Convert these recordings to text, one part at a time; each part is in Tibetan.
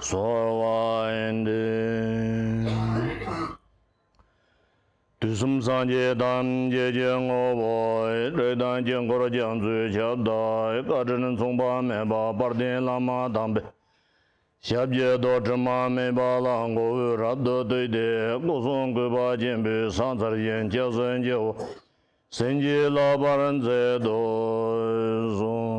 ཚོར་བ་ཡིན་ཏེ། དུས་གསུམ་སངས་རྒྱས་ཐམས་ཅད་ཀྱི་ངོ་བོའི་སྤྲོས་དང་དཀྱིལ་འཁོར་རྒྱ་མཚོའི་ཁྱབ་བདག་བཀའ་དྲིན་མཚུངས་པ་མེད་པ་དཔལ་ལྡན་བླ་མ་དམ་པའི་ཞབས་ཀྱི་རྡོར་དྲིལ་མ་སྨིན་པ་ལ་མགོ་བོས་རབ་ཏུ་བཏུད་དེ་སྐུ་གསུང་གུས་པ་ཆེན་པོའི་ས་མཚར་ཞིང་སྐྱབས་སུ་མཇལ་བར་སེམས་ཀྱིས་བསླབ་པར་མཛད་དུ་གསོལ།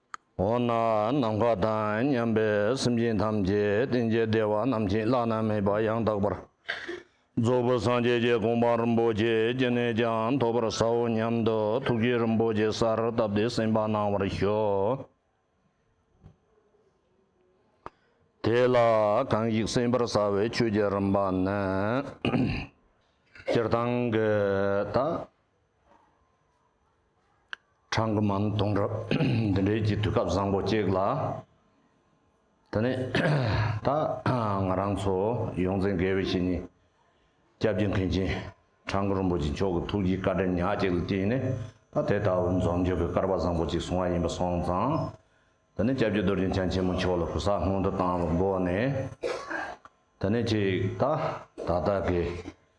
འོ་ན་ནམ་མཁའ་དང་མཉམ་པའི་སེམས་ཅན་ཐམས་ཅད་རྟེན་བྱེད་བདེ་བ་རྣམས་བྱིན་བརླག་ན་མེད་པ་ཡང་དག་པར་རྫོགས་པའི་སངས་རྒྱས་ཀྱི་དགོངས་པ་རིན་པོ་ཆེ་ཅི་ནས་ཀྱང་ཐོབ་པར་བྱའོ་སྙམ་དུ་ཐུགས་ཀྱི་རིན་པོ་ཆེ་སར་བཏབ་སྟེ་སེམས་དཔའ་གནང་བར་ཤོག། དེ་ལ་གང་ཞིག་སེམས་དཔར་བྱ་བའི་ཆོས་ཀྱི་རིམ་པ་ནི། སྤྱིར་བཏང་གི་ད་གྲངས་ཀྱི་མ་ནི་སྟོང་ཕྲག་འདི་འདྲའི་གྱི་དུས་སྐབས་བཟང་པོ་གཅིག་ལ། ད་ནི་ད་ང་རང་ཚོ་ཡོངས་འཛིན་དགེ་བའི་བཤེས་གཉེན་སྐྱབས་རྗེ་མཁན་ཆེན་བྲང་ཁུ་རིན་པོ་ཆེ་མཆོག་གི་ཐུགས་ཀྱི་བཀའ་དྲིན་ཉག་གཅིག་ལ་བརྟེན་ནས་ད་དེ་ལྟ་བུའི་འཛོམས་འཇུག་གི་སྐལ་པ་བཟང་པོ་གཅིག་བཟུང་བ་ཡིན་པ་སོང་ཙང། ད་ནི་སྐྱབས་རྗེ་རྡོ་རྗེ་འཆང་ཆེན་མོ་མཆོག་ལ་གུ་སག་སྔོན་དུ་བཏང་བའི་སྒོ་ནས། ད་ནི་གཅིག་ད་ད་ལྟ་གི།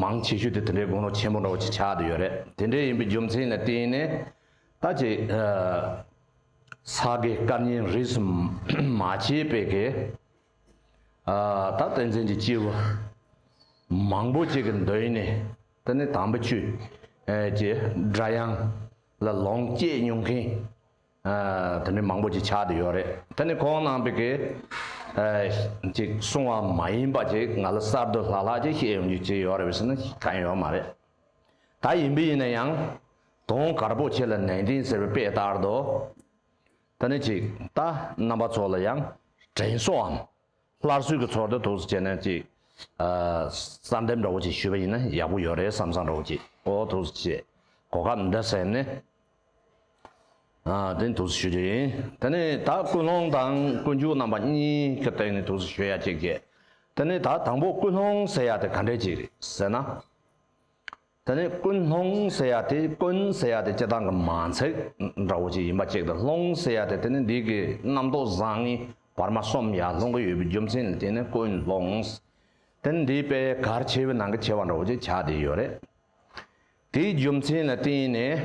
མང་ཆེ་ཤོས་དེ་དེ་འདྲའི་དགུང་ལོ་ཆེན་པོ་འདྲ་བོ་ཅིག་ཆགས་བསྡད་ཡོད་རེད་དེ་འདྲའི་ཡིན་པའི་རྒྱུ་མཚན་ནི་དེ་ཡིན་ནས་ད་ཅི། ས་དགེ་བཀའ་རྙིང་རིས་སུ་མ་ཆད་པའི་གེ། ད་བསྟན་འཛིན་གྱི་སྐྱེས་བུ་མང་པོ་ཅིག་གི་འདོད་ཡོན་ནི་དེ་ནི་དམ་པ་ཆོས་ཀྱི་སྒྲ་དབྱངས་ལ་ལོངས་སྤྱད་མྱོང་མཁན། དེ་ནི་མང་པོ་ཅིག་ཆགས་དེ་ཡོད་རེད་དེ་ནི་ཁོང་ནང་པའི་གི་ཅིག་གསུང་བ་མ་ཡིན་པ་ཅིག་ང་ལ་གསར་དུ་ལྷག་ལྷག་ཅིག་བཤད་ཡོང་རྒྱུ་ཅིག་ཡོད་རེད་བས་ཟེར་ན་གང་ཡོད་མ་རེད་ད་ཡིན་པས་ཡིན་ན་ཡང་དུང་དཀར་པོ་ཁྱེད་ལ་ནན་ཏན་ཟེར་བའི་དཔེ་ལྟར་དུ་དེ་ནི་ཅིག་ད་རྣམ་པ་ཚོ་ལ་ཡང་དྲན་གསོའམ་སླར་གསོས་ཀྱི་ཚོར་འདི་ཐུགས་སུ་བྱས་ནས་ཅིག་གསར་འདེབས་འདྲ་བོ་ཅིག་ཞུས་པ་ཡིན་ན་ཡག་པོ་ཡོད་རེད་བསམ་བསམ་རོགས་ཀྱིས་འོ་ཐུགས་སུ་ཆེ་གོ་སྐབས་འདི་ཟེར་ནས། དེ་ནི་དུག་སེལ་ཞོ་ཡིན། དེ་ནི་ད་ཀུན་སློང་དང་ཀུན་སྤྱོད་རྣམ་པ་གཉིས་ཀྱི་སྟེང་ནས་དུག་སེལ་ཞོ་ཡ་གཅིག་བརྒྱད། དེ་ནི་ད་དང་པོ་ཀུན་སློང་ཟེར་ཡ་དེ་ག་འདྲའི་གཅིག་རེད་ཟེར་ན། དེ་ནི་ཀུན་སློང་ཟེར་ཡ་དེ་ཀུན་ཟེར་ཡ་དེ་སྤྱི་བཏང་གི་མ་ཚིག་འདྲ་བོ་གཅིག་ཡིན་པ་གཅིག་དང་སློང་ཟེར་ཡ་དེ་དེ་ནི་འདི་གི་རྣམ་རྟོག་བཟང་ངན་བར་མ་གསུམ་ཡར་སློང་གི་ཡོད་པའི་རྒྱུ་མཚན་ལ་བརྟེན་ནས་ཀུན་སློང། དེ་ནི་འདིའི་དཔེ་གར་ཆེ་བའི་ནང་གི་ཆེ་བ་འདྲ་བོ་གཅིག་ཆགས་བསྡད་ཡོད་རེད། དེའི་རྒྱུ་མཚན་ལ་བརྟེན་ནས་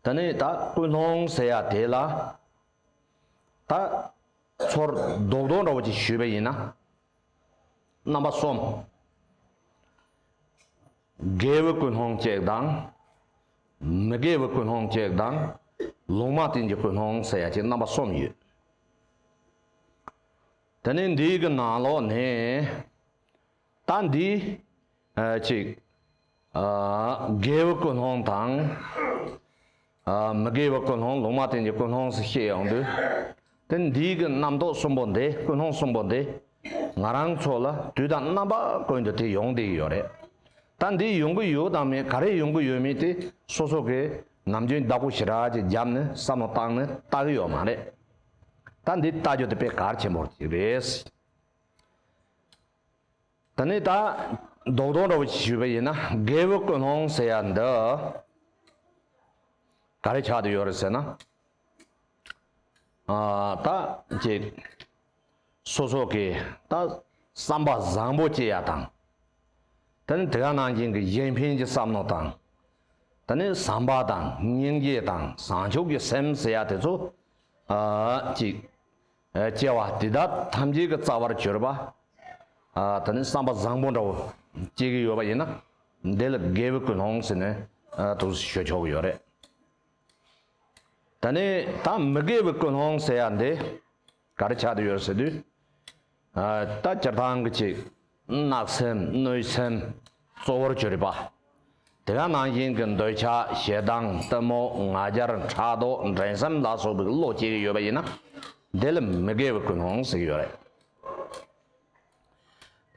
ད་ནི་ད་ཀུན་སློང་ཟེར་ཡ་དེ་ལ་ད་ཚོར་རྡོག་རྡོག་འདྲ་བོ་ཅིག་ཞུས་པ་ཡིན་ན། རྣམ་པ་གསུམ། དགེ་བའི་ཀུན་སློང་གཅིག་དང། མི་དགེ་བའི་ཀུན་སློང་གཅིག་དང། ལུང་མ་བསྟན་གྱི་ཀུན་སློང་ཟེར་ཡ་གཅིག་རྣམ་པ་གསུམ་ཡོད། ད་ནི་འདིའི་གི་ནང་ལོགས་ནས། ད་འདི། གཅིག། དགེ་བའི་ཀུན་སློང་དང། མི་དགེ་བའི་ཀུན་སློང་ལུང་མ་བསྟན་གྱི་ཀུན་སློང་སུ་ཤེས་ཡོང་དུས། དེ་འདིའི་གི་རྣམ་རྟོག་གསུམ་པོ་འདི་ཀུན་སློང་གསུམ་པོ་འདི། ང་རང་ཚོ་ལ་དུས་དང་རྣམ་པ་ཀུན་ཏུ་དེ་ཡོང་བསྡད་ཡོད་རེད། ད་འདི་ཡོང་གི་ཡོད་དང་མེད་ག་རེ་ཡོང་གི་ཡོད་མེད་དེ་སོ་སོ་གིས་ནམ་རྒྱུན་བདག་པོ་ཞི་རགས་ཀྱི་རྒྱབ་ནས་བསམ་བློ་བཏང་ནས་ལྟ་གི་ཡོད་མ་རེད། ད་འདི་ལྟ་རྒྱུ་དེ་དཔེ་གལ་ཆེན་པོ་ཅིག་རེད། ད་ནི་ད། རྡོག་རྡོག་འདྲ་བོ་ཞིག་ཞུས་པ་ཡིན་ན་རྒས་པོའི་ཀུན་སློང་ཟེར་ཡ་འདི། ག་རེ་ཆགས་དུ་ཡོད་རེད་ཟེར་ན། ཨ། ད་ཀྱེ། སོ་སོ་ཀྱི་ད་བསམ་པ་བཟང་པོ་སྐྱེ་ཡ་དང། ད་ནི་དེ་ག་ནང་བཞིན་གྱི་གཞན་ཕན་གྱི་བསམ་མནོ་དང། ད་ནི་བསམ་པ་དང་སྙིང་རྗེ་དང་བཟང་ཕྱོགས་ཀྱི་སེམས་ཟེར་ཡ་དེ་ཚོ། ཨ། ཀྱེ། སྐྱེ་བ་འདི་དག་ཐམས་ཅད་ཀྱི་རྩ་བར་གྱུར་པ། ད་ནི་བསམ་པ་བཟང་པོ་འདྲ་བོ་སྐྱེ་གི་ཡོད་པ་ཡིན་ན། འདི་ལ་དགེ་བའི་ཀུན་སློང་ཟེར་ནས་ཐུགས་སུ་ཆུད་ཆོག་གི་ཡོད་རེད། ད་ནི་ད་མི་དགེ་བའི་ཀུན་སློང་ཟེར་ཡ་འདི་ག་རེ་ཆགས་ཏེ་ཡོད་ཟེར་དུས། ད་སྤྱིར་བཏང་གི་ཅིག། གནག་སེམས་གནོད་སེམས་གཙོ་བོར་གྱུར་པ། དེ་ག་ནང་བཞིན་གྱི་འདོད་ཆགས་ཞེ་སྡང་གཏི་མུག་ང་རྒྱལ་ཕྲག་དོག་འགྲན་སེམས་ལ་སོགས་པའི་བློ་སྐྱེ་གི་ཡོད་པ་ཡིན་ན་དེ་ལ་མི་དགེ་བའི་ཀུན་སློང་ཟེར་གྱི་ཡོད་རེད།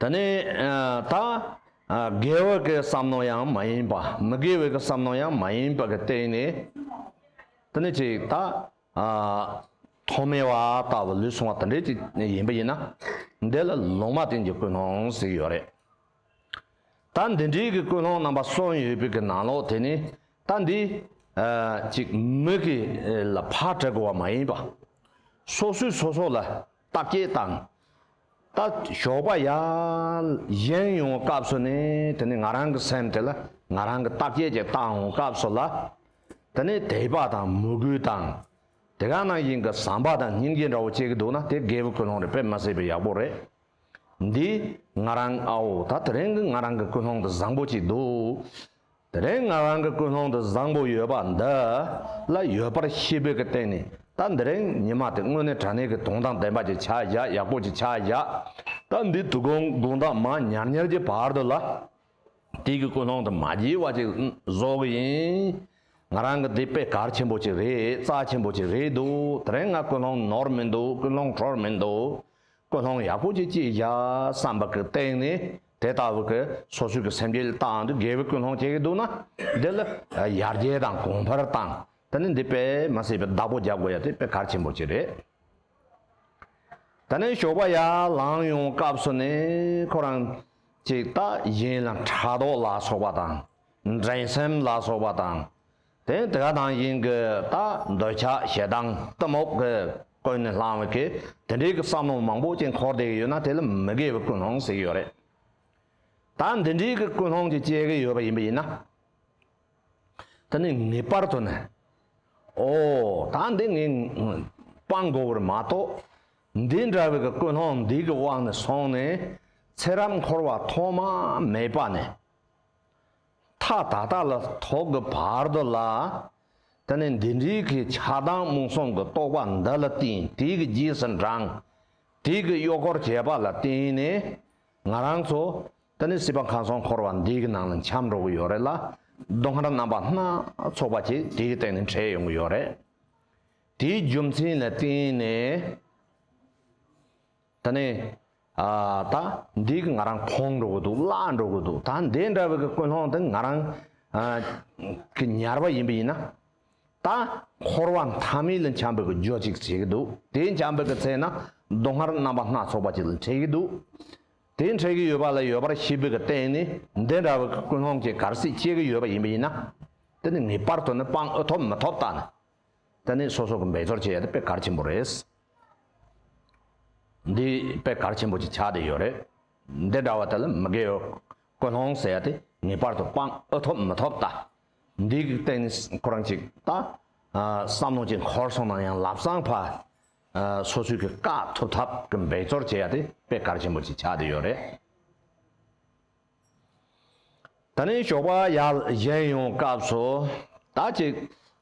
དེ་ནས་ད། དགེ་བ་གི་བསམ་མནོ་ཡང་མ་ཡིན་པ་མི་དགེ་བའི་བསམ་མནོ་ཡང་མ་ཡིན་པ་གི་སྟེང་ནས་དེ་ནི་ཅིག་ད། ཐོག་མའི་བ་ལྟ་བུ་ལུས་ཟུངས་བ་དང་འདྲེས་ཏེ་ཡིན་པ་ཡིན་ན། འདི་ལ་ལུང་མ་བསྟན་གྱི་ཀུན་སློང་ཟིག་ཡོད་རེད། ད་འདི་འདྲིའི་གི་ཀུན་སློང་རྣམ་པ་གསུམ་ཡོད་པའི་གི་ནང་ལོགས་དེ་ནི་ད་འདི། གཅིག་མི་གི་ལ་ཕར་བྲལ་དགོས་བ་མ་ཡིན་པ། སོ་སོས་སོ་སོ་ལ་རྟགས་བརྒྱད་དང། རྟགས་ཞོགས་པ་ཡང་གཞན་ཡོང་བའི་སྐབས་སུ་ནི་དེ་ནི་ང་རང་གི་སེམས་དེ་ལ་ང་རང་གི་རྟགས་བརྒྱད་ཀྱི་རྟགས་འོང་སྐབས་སུ་ལ། དེ་ནི་དད་པ་དང་མོས་གུས་དང། དེ་ག་ནང་བཞིན་གྱི་བསམ་པ་དང་སྙིང་རྗེ་འདྲ་བོ་བསྐྱེད་ཀྱི་འདུག་ན་དེ་རྒས་པོའི་ཀུན་སློང་རེད་དཔེ་མ་བཟོད་པའི་ཡག་པོ་རེད། འདི་ང་རང་ཨའོ་ད་དེ་རིང་གི་ང་རང་གི་ཀུན་སློང་དེ་བཟང་པོ་ཅིག་འདུག། དེ་རིང་ང་རང་གི་ཀུན་སློང་དུ་བཟང་པོ་ཡོད་པ་འདི་ལ་ཡོད་པར་ཤེས་པའི་གི་སྟེང་ནས་ད་འདི་རིང་ཉི་མ་དེ་དངོས་གནས་དྲ་གནས་ཀྱི་དུང་ཐང་ལྡན་པ་ཅིག་ཆགས་བཞག་ཡག་པོ་ཅིག་ཆགས་བཞག་ད་འདི་དུ་གུང་གུང་ཐང་མ་ཉར་ཉར་གྱི་བར་དུ་ལ་དེ་གི་ཀུན་སློང་དུ་མ་བགྱིས་བ་ཅིག་བཟོ་གི་ཡིན། ང་རང་གི་འདི་དཔེ་གར་ཆེན་པོ་ཅིག་རེད་རྩ་ཆེན་པོ་ཅིག་རེད་འདུག་དེ་རིང་ང་ཀུན་སློང་ནོར་མི་འདུག་ཀུན་སློང་འཕྲོར་མི་འདུག་ཀུན་སློང་ཡག་པོ་ཅིག་བགྱིས་བཞག་བསམ་པ་གི་སྟེང་ནས་དེ་ལྟ་བུ་གི་སོ་སོའི་གི་སེམས་ཀྱི་སྟངས་འདི་དགེ་བའི་ཀུན་སློང་བྱེད་ཀྱི་འདུག་ན་འདི་ལ་ཡར་རྒྱས་དང་གོང་འཕེལ་བཏང་ད་ནི་འདི་དཔེ་མ་སྲིད་པའི་བདག་པོ་རྒྱབ་དགོས་ཡ་དེ་དཔེ་གལ་ཆེན་པོ་གཅིག་རེད། ད་ནི་ཞོགས་པ་ཡར་ལངས་ཡོང་སྐབས་སུ་ནི་ཁོ་རང་ཅིག་ལྟ་བཞིན་ལ་དྲ་ཐོག་ལ་སོགས་པ་དང་འགྲན་སེམས་ལ་སོགས་པ་དང་དེ་དགའ་དང་དབྱིངས་ཀྱི་རྟ་འདོད་ཆགས་ཞེ་སྡང་གཏི་མུག་གིས་ཀུན་ནས་བསླངས་བའི་གེགས་དེ་འདྲའི་གི་བསམ་བློ་མང་པོ་ཅིག་འཁོར་འདས་ཡོད་ན་དེ་ལ་མི་དགེ་བའི་ཀུན་སློང་ཟེར་གྱི་ཡོད་རེད། ད་འདི་འདྲའི་གི་ཀུན་སློང་ཅིག་སྐྱེ་གི་ཡོད་པ་ཡིན་པ་ཡིན་ན། དེ་ནི་ངེས་པར་དུ་ནི། ཨོ། ད་འདི་ངས་སྤང་དགོས་པར་མ་གཏོགས། འདི་འདྲ་བའི་གི་ཀུན་སློང་འདི་གི་དབང་ནས་སོང་ནས་ཚེ་རབས་འཁོར་བ་ཐོག་མ་མེད་པ་ནས། མཐའ་དག་དག་ལ་ཐོག་གི་བར་དོ་ལ། དེ་ནས་འདི་འདྲིལ་གྱི་ཆགས་སྡང་རྨོངས་གསུམ་གྱི་རྟོག་པ་འདི་ལ་བརྟེན་དུས་ཀྱི་རྗེས་སུ་འབྲང། དུས་ཀྱི་གཡོག་འཁོར་བྱེད་པ་ལ་བརྟེན་ནས། ང་རང་ཚོ། དེ་ནས་སྲིད་པ་མཁའ་མཚོ་འཁོར་བ་འདི་གི་ནང་ལ་འཁྱམས་འགྲོ་གི་ཡོད་རེད་ལ། སྡུག་བསྔལ་རྣམ་པ་སྣ་ཚོགས་པ་ཞིག་དེའི་སྟེང་ནས་འཕྲད་ཡོང་གི་ཡོད་རེད། དེའི་རྒྱུ་མཚན་ལ་བརྟེན་ནས། ད་ནི་ད་འདི་ང་རང་ཕོངས་འགྲོ་གི་འདུག་བརླག་འགྲོ་གི་འདུག་ད་འདི་འདྲ་བའི་ཀུན་སློང་དེ་ང་རང་གི་ཉར་བ་ཡིན་པ་ཡིན་ན། ད་འཁོར་བ་མཐའ་མི་ལ་འཁྱམས་པའི་གི་རྒྱོ་ཅིག་བྱེད་ཀྱི་འདུག་དེ་འཁྱམས་པའི་གི་ཚེ་ན་སྡུག་བསྔལ་རྣམ་པ་སྣ་ཚོགས་པ་ཅིག་ལ་འཕྲད་ཀྱི་འདུག་དེ་འཕྲད་ཀྱི་ཡོད་པ་ལ་ཡོད་པར་ཤེས་པའི་གི་སྟེང་ནས་འདི་འདྲ་བའི་གི་ཀུན་སློང་གི་གར་སིག་སྐྱེ་གི་ཡོད་པ་ཡིན་པ་ཡིན་ན། དེ་ནི་ངེས་པར་དུ་ནི་དཔང་ཨུ་ཐོབ་མི་ཐོབ་ད་ནི་དེ་ནི་སོ་སོ་གི་འབད་རྩོལ་བྱེད་ཡ་དེ་པད་དཀར་ཆེན་པོ་རེད། འདི་པད་དཀར་ཆེན་པོ་གྱི་ཆ་དེ་ཡོད་རེད། འདི་འདྲ་བ་དེ་ལ་མི་དགེའོ། ཀུན་སློང་ཟེར་ཡ་དེ་ངེས་པར་དུ་སྤང་ཨུ་ཐོབ་མི་ཐོབ་ལྟ། འདི་གི་སྟེང་ནས་ཁོ་རང་གཅིག་ལྟ། བསམ་བློ་གཅིག་འཁོར་སོང་ན་ཡང་ལབ་སངས་ཕ། སོ་སོའི་གི་བཀག་ཐུབ་ཐབས་གི་འབད་རྩོལ་བྱེད་ཡ་དེ་པད་དཀར་ཆེན་པོ་གྱི་ཆ་དེ་ཡོད་རེད། ད་ནི་ཞོགས་པ་ཡར་བཞེངས་ཡོང་སྐབས་སུ་དར་ཅིག་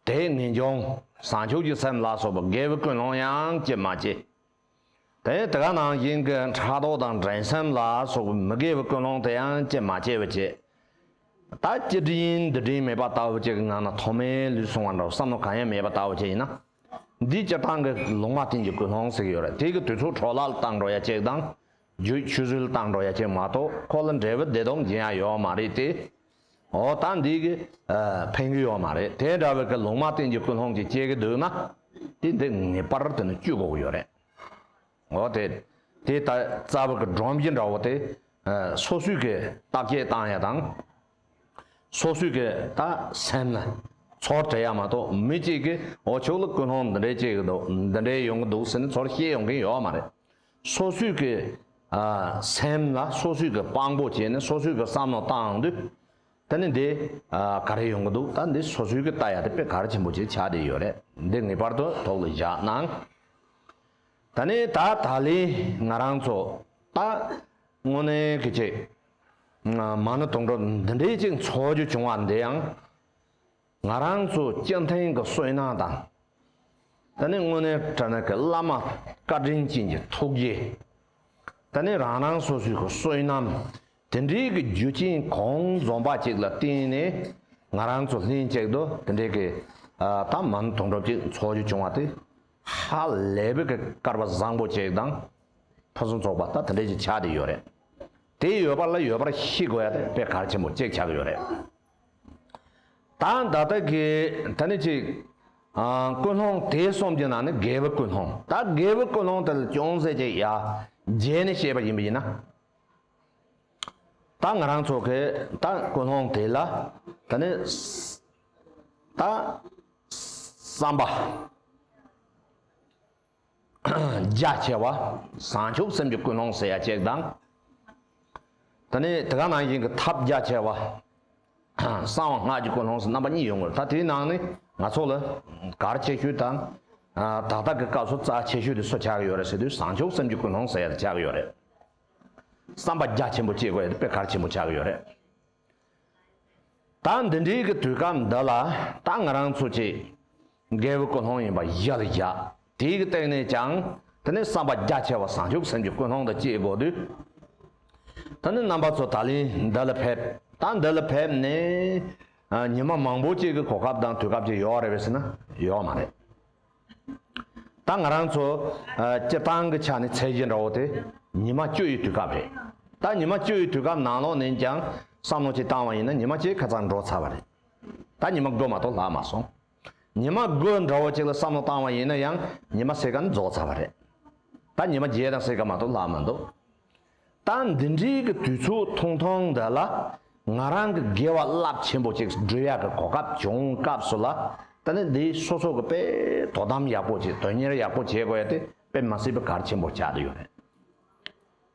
དེས་ངེས་འབྱུང་བཟང་ཕྱུག་གི་སེམས་ལ་སོགས་པ་དགེ་བའི་ཀུན་སློང་ཡང་སྐྱེད་མ་བྱེད། དེ་ནི་དེ་ག་ནང་བཞིན་གྱི་ཕྲག་དོག་དང་འགྲན་སེམས་ལ་སོགས་པའི་མི་དགེ་བའི་ཀུན་སློང་དེ་ཡང་སྐྱེད་མ་བྱེད་པ་བྱེད། ད་སྤྱིར་དབྱིན་འདི་དྲིན་མེད་པ་ལྟ་བུ་ཅིག་གི་ངང་ན་ཐོག་མའི་ལུས་སོང་བ་འདྲ་བར་བསམ་བློ་གང་ཡང་མེད་པ་ལྟ་བུ་ཅིག་ཡིན་ན། འདིའི་སྤྱིར་བཏང་གི་ལུང་མ་བསྟན་གྱི་ཀུན་སློང་ཟིག་ཡོད་རེད་དེ་གི་དུས་ཚོད་འཕྲོ་བརླག་བཏང་འགྲོ་ཡ་གཅིག་དང་རྒྱུད་ཆུད་ཟོས་ལ་བཏང་འགྲོ་ཡ་ཁྱེད་མ་གཏོགས་ཁོ་ལ་འབྲས་བུ་བདེ་སྟོང་སྦྱིན་ཡ་ཡོད་མ་རེད་དེ། འོ་ད་འདི་གི། ཕན་གི་ཡོད་མ་རེད་དེ་འདྲ་བའི་གི་ལུང་མ་བསྟན་གྱི་ཀུན་སློང་གི་སྐྱེ་གི་འདུག་ན། དེ་འདི་ངེས་པར་དུ་ནི་བཅུད་འགོག་ཡོད་རེད། འོ་དེ། དེ་ལྟ་རྩ་བའི་གི་སྒྲོམ་གྱི་འདྲ་བོ་དེ། སོ་སོའི་གི་རྟགས་བརྒྱད་བཏང་ཡ་དང། སོ་སོའི་གི་ད་སེམས་ལ། ཚོར་བྱེད་ཡ་མ་གཏོགས་མི་གཅིག་གིས་འོ་ཁྱོད་ལ་ཀུན་སློང་འདི་འདྲའི་སྐྱེ་གི་འདུག་འདི་འདྲའི་ཡོང་གི་འདུག་ཟེར་ནས་ཚོར་ཤེས་ཡོང་གིན་ཡོད་མ་རེད། སོ་སོས་ཀྱི་སེམས་ལ་སོ་སོས་ཀྱི་དཔང་པོ་བྱས་ནས་སོ་སོས་ཀྱི་བསམ་བློ་བཏང་དུས། ད་ནི་འདི་ག་རེ་ཡོང་གི་འདུག་ད་འདི་སོ་སོས་ཀྱི་ལྟ་ཡ་དེ་དཔེ་གར་ཆེན་པོ་ཆེ་ཆགས་བསྡད་ཡོད་རེད་འདི་ངེས་པར་དུ་དོགས་ལ་བཞག་གནང། ད་ནི་ད་ད་ལི་ང་རང་ཚོ་ད་དངོས་གནས་ཀྱི་ཅིག་མ་ནི་དུང་སྒྲོ་འདི་འདྲའི་ཅིག་འཚོ་རྒྱུ་བྱུང་བ་འདི་ཡང། ང་རང་ཚོ་སྤྱི་མཐུན་གྱི་སོས་ནང་དང། ད་ནི་དངོས་གནས་བཀྲ་ན་གི་བླ་མ་བཀའ་དྲིན་ཅན་གྱི་ཐུགས་རྗེ། ད་ནི་རང་རང་སོ་སོའི་གི་སོས་ནམ་དེ་འདྲའི་གི་རྒྱུ་རྐྱེན་གོང་འཛོམས་པ་ཅིག་ལ་བརྟེན་ནས་ང་རང་ཚོ་ལྷན་ཅིག་ཏུ་དེ་འདྲའི་གི་ཐབས་མང་དོན་གྲུབ་ཅིག་འཚོགས་རྒྱུ་བྱུང་བ་དེ་ཧ་ལས་པའི་གི་སྐར་བ་བཟང་པོ་ཅིག་དང། ཕུན་སུམ་ཚོགས་པ་ད་དེ་འདྲའི་ཅིག་ཆགས་བསྡད་ཡོད་རེད། དེ་ཡོད་པ་ལ་ཡོད་པར་ཤི་དགོས་པའི་གར་ཆེན་པོ་ཅིག་ཆགས་ཀྱི་ཡོད་རེད། ད་ད་ལྟ་གི་ད་ནི་ཅིག། ཀུན་སློང་དེ་གསུམ་གྱི་ནང་ནས་དགེ་བའི་ཀུན་སློང་ད་དགེ་བའི་ཀུན་སློང་དེ་ལ་ཅུང་ཟད་ཅིག་ཡར་རྒྱས་ནས་བཤད་པ་ཡིན་པ་ཡིན་ན། ད་ང་རང་ཚོ་གི་ད་ཀུན་སློང་དེ་ལ་ད་ནི། ད་བསམ་པ། རྒྱ་ཆེ་བ། བཟང་ཕྱོགས་སེམས་ཀྱི་ཀུན་སློང་ཟེར་ཡ་གཅིག་དང། ད་ནི་དེ་ག་ནང་བཞིན་གྱི་ཐབས་རྒྱ་ཆེ་བ། གསང་བ་སྔགས་ཀྱི་ཀུན་སློང་སོགས་རྣམ་པ་གཉིས་ཡོད་ངོ། ད་དེའི་ནང་ནས་ང་ཚོ་ལ་གར་ཆེ་ཤོས་དང། དག་རྟགས་ཀྱི་སྐབས་སུ་རྩ་ཆེ་ཤོས་དེ་སུ་ཆགས་ཀྱི་ཡོད་རེད་ཟེར་དུས་བཟང་ཕྱོགས་སེམས་ཀྱི་ཀུན་སློང་ཟེར་ཡ་དེ་ཆགས་ཀྱི་ཡོད་རེད། བསམ་པ་རྒྱ་ཆེན་པོ་སྐྱེས་དགོས་ཡ་དེ་དཔེ་གར་ཆེན་པོ་ཆགས་ཀྱི་ཡོད་རེད། ད་འདི་འདྲིའི་གི་དུས་སྐབས་འདི་ལ་ད་ང་རང་ཚོ་ཅིག་རྒས་པོའི་ཀུན་སློང་ཡིན་པ་གཞི་ལ་བཞག་དེའི་གི་སྟེང་ནས་ཀྱང་དེ་ནི་བསམ་པ་རྒྱ་ཆེ་བ་བཟང་ཕྱུག་སེམས་ཀྱི་ཀུན་སློང་དུ་སྐྱེས་དགོས་དུས་ད་ནི་རྣམ་པ་ཚོ་ད་ལིན་འདི་ལ་ཕེབས་ད་འདི་ལ་ཕེབས་ནས་ཉི་མ་མང་པོ་ཅིག་གི་གོ་སྐབས་དང་དུས་སྐབས་ཅིག་ཡོག་རེད་བས་ཟེར་ན་ཡོག་མ་རེད། ད་ང་རང་ཚོ་སྤྱིར་བཏང་གི་ཆ་ནས་ཚད་གཞི་འདྲ་བོ་དེ་ཉི་མ་བཅུ་ཡི་དུས་སྐབས་རེད། ད་ཉི་མ་བཅུ་ཡི་དུས་སྐབས་ནང་ལོགས་ནས་ཀྱང་བསམ་བློ་གཅིག་བཏང་བ་ཡིན་ན་ཉི་མ་གཅིག་ཁ་ཚར་འགྲོ་ཚར་བ་རེད། ད་ཉི་མ་དགུ་མ་གཏོགས་ལྷག་མ་སོང། ཉི་མ་དགུ་འདྲ་བོ་གཅིག་ལ་བསམ་བློ་བཏང་བ་ཡིན་ན་ཡང་ཉི་མ་སེར་ཀ་ནི་རྫོགས་ཚར་བ་རེད། ད་ཉི་མ་བརྒྱད་དང་སེར་ཀ་མ་གཏོགས་ལྷག་མ་འདུག། ད་འདི་འདྲིའི་གི་དུས་ཚོད་ཐུང་ཐུང་འདི་ལ་ང་རང་གི་དགེ་བ་རླབས་ཆེན་པོ་ཅིག་སྒྲུབ་ཡག་གི་གོ་སྐབས་བྱུང་སྐབས་སུ་ལ་ད་ནི་འདི་སོ་སོ་གི་དཔེ་དོ་དམ་ཡག་པོ་བྱེད་དོན་གཉེར་ཡག་པོ་བྱེད་དགོས་ཡ་དེ་དཔེ་མ་སྲིད་པའི་གར་ཆེན་པོ་བྱ་དུ་ཡོད་རེད།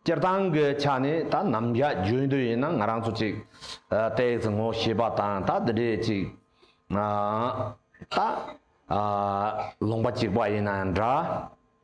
སྤྱིར་བཏང་གི་ཆ་ནས་ད་ནམ་བཞག་རྒྱུན་དུ་ཡིན་ན་ང་རང་ཚོ་ཅིག་ཏེག་ཙི་ངོ་ཤེས་པ་དང་ད་འདི་འདྲའི་ཅིག་ད་ལོང་པ་ཅིག་པ་ཡིན་ན་འདྲ།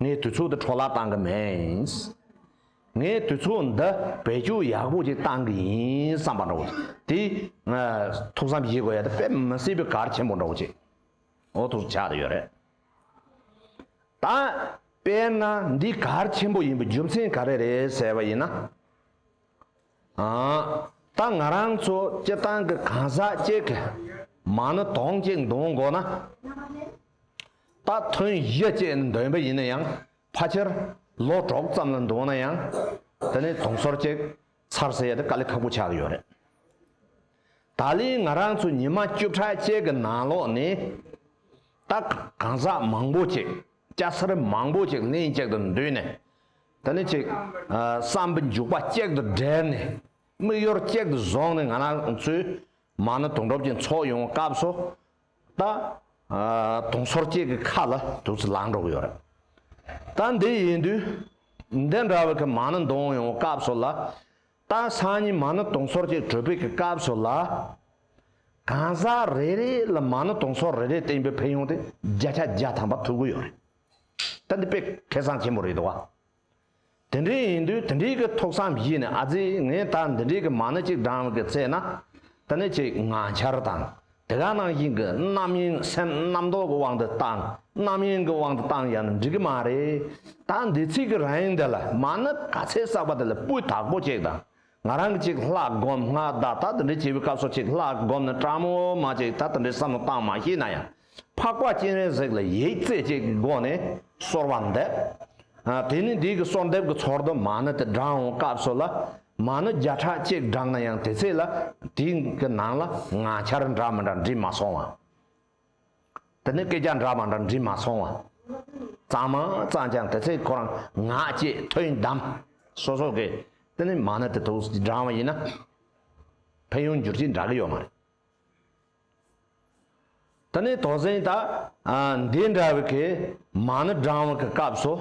ངས་དུས་ཚོད་འདི་འཕྲོ་བརླག་གཏང་གི་མིན། ངས་དུས་ཚོད་འདི་བེད་སྤྱོད་ཡག་པོ་ཅིག་གཏང་གི་ཡིན་བསམ་པ་འདྲ་བོ། དེ་ཐུགས་བསམ་བཞེས་དགོས་ཡ་དེ་དཔེ་མི་སྲིད་པའི་གར་ཆེན་པོ་འདྲ་བོ་ཅིག་འོ་ཐུག་ཆགས་ཡོད་རེད། ད་དཔེར་ན་འདི་གར་ཆེན་པོ་ཡིན་པའི་རྒྱུ་མཚན་ག་རེ་རེད་ཟེར་བ་ཡིན་ན། ད་ང་རང་ཚོ་སྤྱི་བཏང་གི་གང་ཟག་གཅིག་གི་མང་ནི་དོང་གཅིག་འདོན་དགོས་ན། རྟ་ཐོན་གཞི་བཅས་འདོན་པ་ཡིན་ན་ཡང་ཕ་ཆེར་ལོ་གྲོགས་ཙམ་ལ་འདོན་ན་ཡང་དེ་ནི་དུང་ཟོར་ཅིག་ཚར་ཟེར་ཡ་དེ་དཀའ་ལས་ཁག་པོ་ཆགས་ཀྱི་ཡོད་རེད། ད་ལི་ང་རང་ཚོ་ཉི་མ་བཅུ་ཕྲག་བཅས་ཀྱི་ནང་ལོགས་ནས་རྟ་གང་ཟག་མང་པོ་ཅིག་སྐྱ་སེར་མང་པོ་ཅིག་ལྷན་ཅིག་ཏུ་འདུས་ནས་དེ་ནི་ཅིག་བསམ་པ་འཇུག་པ་གཅིག་ཏུ་སྦྲེལ་ནས་དམིགས་ཡུལ་གཅིག་ཏུ་བཟུང་ནས་ང་རང་ཚོའི་མང་ན་དུང་སྒྲོབ་ཅིག་འཚོགས་ཡོང་བ་སྐབས་སུ་ད། དུང་སོར་གཅིག་གི་ཁ་ལ་དུག་རྩི་ལངས་འགྲོ་གི་ཡོད་རེད། ད་འདི་ཡིན་དུས། འདི་འདྲ་བའི་ཁ་མང་ན་འདོང་ཡོང་བའི་སྐབས་སུ་ལ། ད་སང་ཉིན་མང་ན་དུང་སོར་གཅིག་དྲོས་པའི་གི་སྐབས་སུ་ལ། གང་ཟག་རེ་རེ་ལ་མང་ན་དུང་སོར་རེ་རེ་སྟེང་པའི་ཕན་ཡོང་དེ་བརྒྱ་ཆ་བརྒྱ་ཐམ་པ་ཐུག་གི་ཡོད་རེད། ད་འདི་དཔེ་ཁེ་བཟང་ཆེན་པོ་རེད་འདུག་བ། དེ་འདྲའི་ཡིན་དུས་དེ་འདྲའི་གི་ཐུགས་བསམ་བཞིས་ནས་ཨ་ཙི་ངས་ད་འདི་འདྲའི་གི་མང་ན་གཅིག་འགྲངས་གི་ཚེ་ན་ད་ནི་ཅིག་ང་འཆར་དང་དེ་ག་ནང་བཞིན་གི་རྣམ་གཡེང་སེམས་རྣམ་རྟོག་གི་དབང་དུ་བཏང་རྣམ་གཡེང་གི་དབང་དུ་བཏང་ཡང་ནི་འགྲིག་གི་མ་རེད་ད་འདི་ཚིག་གི་རིང་འདི་ལ་མ་ནི་ག་ཚད་བསགས་པ་དེ་ལ་སྤུས་དག་པོ་ཅིག་དང་ང་རང་གཅིག་ལྷག་སྒོམ་སྔ་ཟླ་ད་ལྟ་འདྲི་བྱེད་པའི་སྐབས་སུ་གཅིག་ལྷག་སྒོམ་ནི་ཀྲ་མོ་མ་གཅིག་ད་ལྟ་འདྲི་བསམ་བློ་བཏང་མ་ཤེས་ན་ཡང་འཕགས་པ་སྤྱན་རས་གཟིགས་ལ་ཡིག་རྩེ་གཅིག་གི་སྒོ་ནས་གསོལ་བ་འདེབས། དེ་ནི་འདི་གི་གསོལ་འདེབས་ཀྱི་ཚོར་དུ་མ་ནི་དེ་བགྲང་བའི་སྐབས་སུ་ལ་མ་ནི་བརྒྱ་ཕྲག་གཅིག་བགྲང་ན་ཡང་དེ་ཚེ་ལ་དེའི་ནང་ལ་ང་འཆར་འདྲ་མི་འདྲ་འདྲི་མ་སོང་བ་དེ་ནི་སྐད་ཆ་འདྲ་མ་འདྲ་འདྲིས་མ་སོང་བ། གཙང་མ་གཙང་ཀྱང་དེ་ཚེ་ཁོ་རང་ངག་བཅད་ཐོས་གདམས་སོ་སོ་གི་དེ་ནི་མ་ནི་དེ་ཐུགས་འབྲང་བ་ཡིན་ན། ཕན་ཡོན་འགྱུར་གྱི་འདྲ་གི་ཡོད་མ་རེད། དེ་ནི་དོགས་ཟིན་ད་འདི་འདྲ་བའི་གི་མ་ནི་འབྲང་བ་གི་སྐབས་སུ་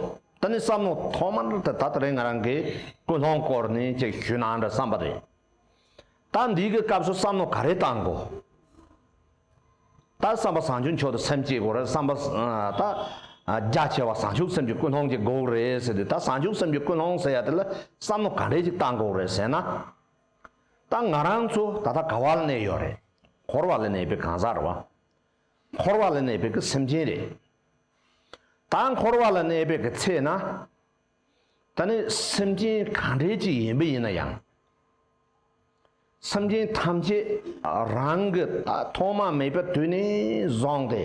དེ་ནི་བསམ་མོ་ཐོག་མར་དེ་ད་ལྟ་རིང་ང་རང་གི་ཀུན་སློང་སྐོར་ནས་ཅིག་ཞུས་ན་འདྲ་བསམ་པ་རེད། ད་འདིའི་གི་སྐབས་སུ་བསམ་མནོ་ག་རེ་བཏང་དགོས། ད་བསམ་པ་བཟང་ཆུ་མཆོག་ཏུ་སེམས་བསྐྱེད་དགོས་རེད་བསམ་པ། ད་རྒྱ་ཆེ་བ་བཟང་ཆུ་སེམས་ཀྱི་ཀུན་སློང་གི་འགོག་རེད་ཟེར་དུས་ད་བཟང་ཆུ་སེམས་ཀྱི་ཀུན་སློང་ཟེར་ཡ་དེ་ལ་བསམ་མནོ་ག་འདྲས་ཅིག་བཏང་དགོས་རེད་ཟེར་ན། ད་ང་རང་ཚོ་ད་ལྟ་ག་བ་ལ་གནས་ཡོད་རེད། འཁོར་བ་ལ་གནས་པའི་གང་ཟག་རེད་བ། འཁོར་བ་ལ་གནས་པའི་གི་སེམས་ཅན་རེད། ད་འཁོར་བ་ལ་གནས་པའི་གི་ཚེ་ན། ད་ནི་སེམས་ཅན་གང་འདྲའི་ཅིག་ཡིན་པས་ཡིན་ན་ཡང། སེམས་ཅན་ཐམས་ཅད་རང་གི་ད་ཐོག་མ་མེད་པའི་དུས་ནས་བཟུང་སྟེ།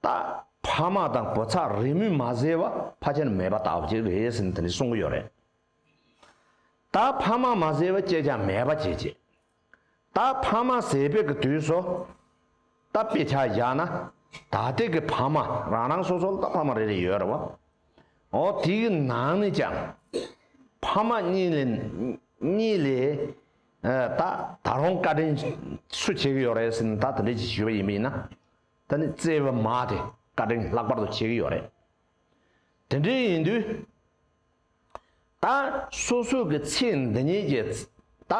ད་ཕ་མ་དང་བུ་ཚ་རེས་མོས་མ་བཟོས་བ་ཕ་ཁྱེར་མེད་པ་དག་ཅིག་རེད་ཟེར་ནས་དེ་འདྲས་གསུང་གི་ཡོད་རེད། ད་ཕ་མ་མ་བཟོས་བ་སྐྱེས་ཀྱང་མེད་པ་ཅིག་བྱེད། ད་ཕ་མ་ཟས་སྤེལ་གྱི་དུས་སོ། ད་དཔེ་ཆ་བཞག་ན། ད་ལྟའི་གི་ཕ་མ་རང་རང་སོ་སོར་ད་ཕ་མ་རེ་རེ་ཡོད་རེད་བ། འོ་དེའི་ནང་ནས་ཀྱང། ཕ་མ་གཉིས་ལས། གཉིས་ལས། ད་ད་རུང་བཀའ་དྲིན་སུ་བྱེད་ཀྱི་ཡོད་རེད་ཟེར་ན་ད་དེ་འདྲའི་ཅིག་ཞུས་པ་ཡིན་པ་ཡིན་ན། ད་ནི་བརྩེ་བའི་མ་དེ་བཀའ་དྲིན་ལྷག་པར་དུ་བྱེད་ཀྱི་ཡོད་རེད། དེ་འདྲའི་ཡིན་དུས། ད་སོ་སོ་གི་ཚེ་འདི་ཉིད་ཀྱི། ད་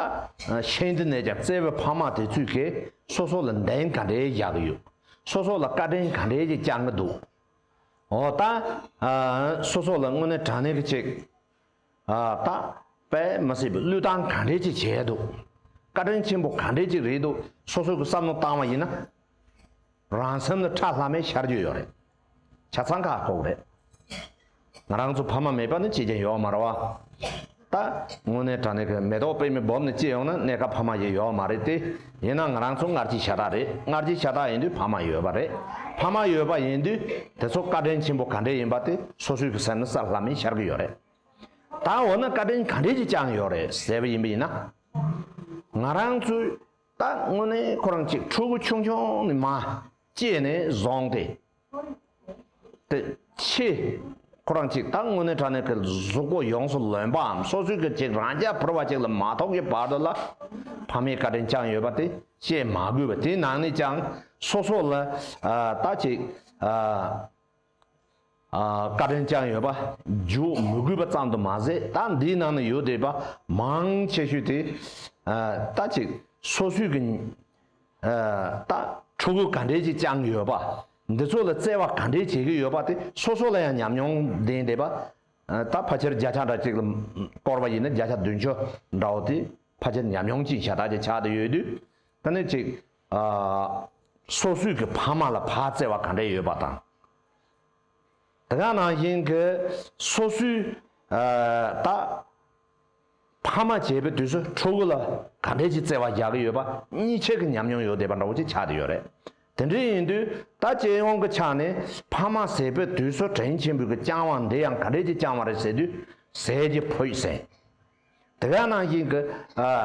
ཕྱིན་འདི་ནས་ཀྱང་བརྩེ་བའི་ཕ་མ་དེ་ཚོས་ཀྱི་སོ་སོ་ལ་འདེང་ག་འདྲའི་རྒྱག་གི་ཡོད། སོ་སོ་ལ་བཀའ་དྲིན་ག་འདྲའི་ཀྱི་བསྐྱང་གི་འདུག་ཨོ། ད་སོ་སོ་ལ་དངོས་གནས་དྲང་གནས་ཀྱི་ཅིག། ད་པད་མ་སྲིད་པའི་བློས་བཏང་ག་འདྲའི་ཅིག་བྱས་འདུག། བཀའ་དྲིན་ཆེན་པོ་ག་འདྲའི་ཅིག་རེད་འདུག་སོ་སོ་གི་བསམ་བློ་བཏང་བ་ཡིན་ན། རང་སེམས་ལ་ཁྲ་ལྷ་མེད་ཤར་རྒྱུ་ཡོད་རེད། བྱ་ཚང་ཁ་ཁོག་རེད། ང་རང་ཚོ་ཕ་མ་མེད་པ་ནི་ཅི་རྐྱེན་ཡོག་མ་ར་བ། ད། དངོས་གནས་དྲ་གནས་ཁོས་མེ་ཏོག་དཔེ་མི་སྦོབ་ནི་ཅི་ཡོང་ན་གནས་སྐབས་ཕ་མ་ཡི་ཡོག་མ་རེད་དེ། ཡིན་ན་ང་རང་ཚོ་སྔར་གྱི་ཤ་ཁྲག་རེད་སྔར་གྱི་ཤ་ཁྲག་ཡིན་དུས་ཕ་མ་ཡོད་པ་རེད་ཕ་མ་ཡོད་པ་ཡིན་དུས་དེ་ཚོ་བཀའ་དྲིན་ཆེན་པོ་ག་འདྲས་ཡིན་པ་དེ་སོ་སོའི་གི་སེམས་ནི་སར་ལྷམ་མེ་ཤར་གི་ཡོད་རེད། ད་འོ་ན་བཀའ་དྲིན་ག་འདྲས་ཀྱི་བསྐྱངས་ཡོག་རེད་ཟེར་བ་ཡིན་པ་ཡིན་ན། ང་རང་ཚོའི། ད་དངོས་གནས་ཁོ་རང་གཅིག་ཕྲུ་གུ་ཆུང་ཆུང་ནི་མ་སྐྱེས་ནས་བཟུང་སྟེ། དེ་ཕྱི་ཁོ་རང་གཅིག་ད་དངོས་གནས་དྲ་གནས་ཀྱི་གཟུགས་པོ་ཡོངས་སུ་ལོན་པའམ་སོ་སོའི་གཅིག་རང་རྐྱ་བོར་བ་གཅིག་ལ་མ་ཐོགས་ཀྱི་བར་དུ་ལ་ཕ་མའི་བཀའ་དྲིན་བསྐྱངས་ཡོད་པ་དེ་བཤད་མ་དགོས་པ་དེའི་ནང་ནས་ཀྱང་སོ་སོ་ལ་ད་ཅིག་བཀའ་དྲིན་བསྐྱངས་ཡོད་པ་བརྗོད་མི་དགོས་པ་ཙམ་དུ་མ་ཟད་ད་འདིའི་ནང་ན་ཡོད་བསྡད་པ་མང་ཆེ་ཤོས་དེ་ལྟ་ཅིག་སོ་སོས་ཀྱི་ལྟ་ཕྲུ་གུ་ག་འདྲས་ཅིག་བསྐྱངས་ཡོད་པ་འདི་ཚོ་ལ་བརྩེ་བ་ག་འདྲས་བྱེད་ཀྱི་ཡོད་པ་དེ་སོ་སོ་ལ་ཡང་ཉམས་མྱོང་ལྡན་བསྡད་པ་ད་ཕ་ཁྱེར་བརྒྱ་ཆ་འདྲ་ཅིག་ལ་བསྐོར་བ་ཡིན་ན་བརྒྱ་ཆ་བདུན་ཅུ་འདྲ་བོ་དེ་ཕ་ཁྱེར་ཉམས་མྱོང་ཅིག་ཤ་སྟག་ཅིག་ཆགས་བསྡད་ཡོད་དུས་ད་ནི་ཅིག་སོ་སོས་ཀྱི་ཕ་མ་ལ་བག་བཙལ་བ་ག་འདྲ་ཡོད་པ་དང། དེ་ག་ནང་བཞིན་གྱི་སོ་སོའི་ད་ཕ་མ་བྱས་པའི་དུས་སུ་ཕྲུ་གུ་ལ་ག་འདྲས་ཀྱི་བརྩེ་བ་རྒྱག་གི་ཡོད་པ་གཉིས་ཆད་ཀྱི་ཉམས་མྱོང་ཡོད་བསྡད་པ་འདྲ་བོ་ཅིག་ཆགས་བསྡད་ཡོད་རེད། དེ་འདྲས་ཡིན་དུས་ད་སྤྱི་ཡོངས་ཀྱི་ཆ་ནས་ཕ་མ་ཟས་པའི་དུས་སུ་དྲིན་ཆེན་པོས་ཀྱི་བསྐྱང་བ་འདི་ཡང་ག་འདྲས་ཀྱི་བསྐྱང་བ་རེད་ཟེར་དུས་ཟས་ཀྱི་ཕོད་ཟེར། དེ་ག་ནང་བཞིན་གྱི་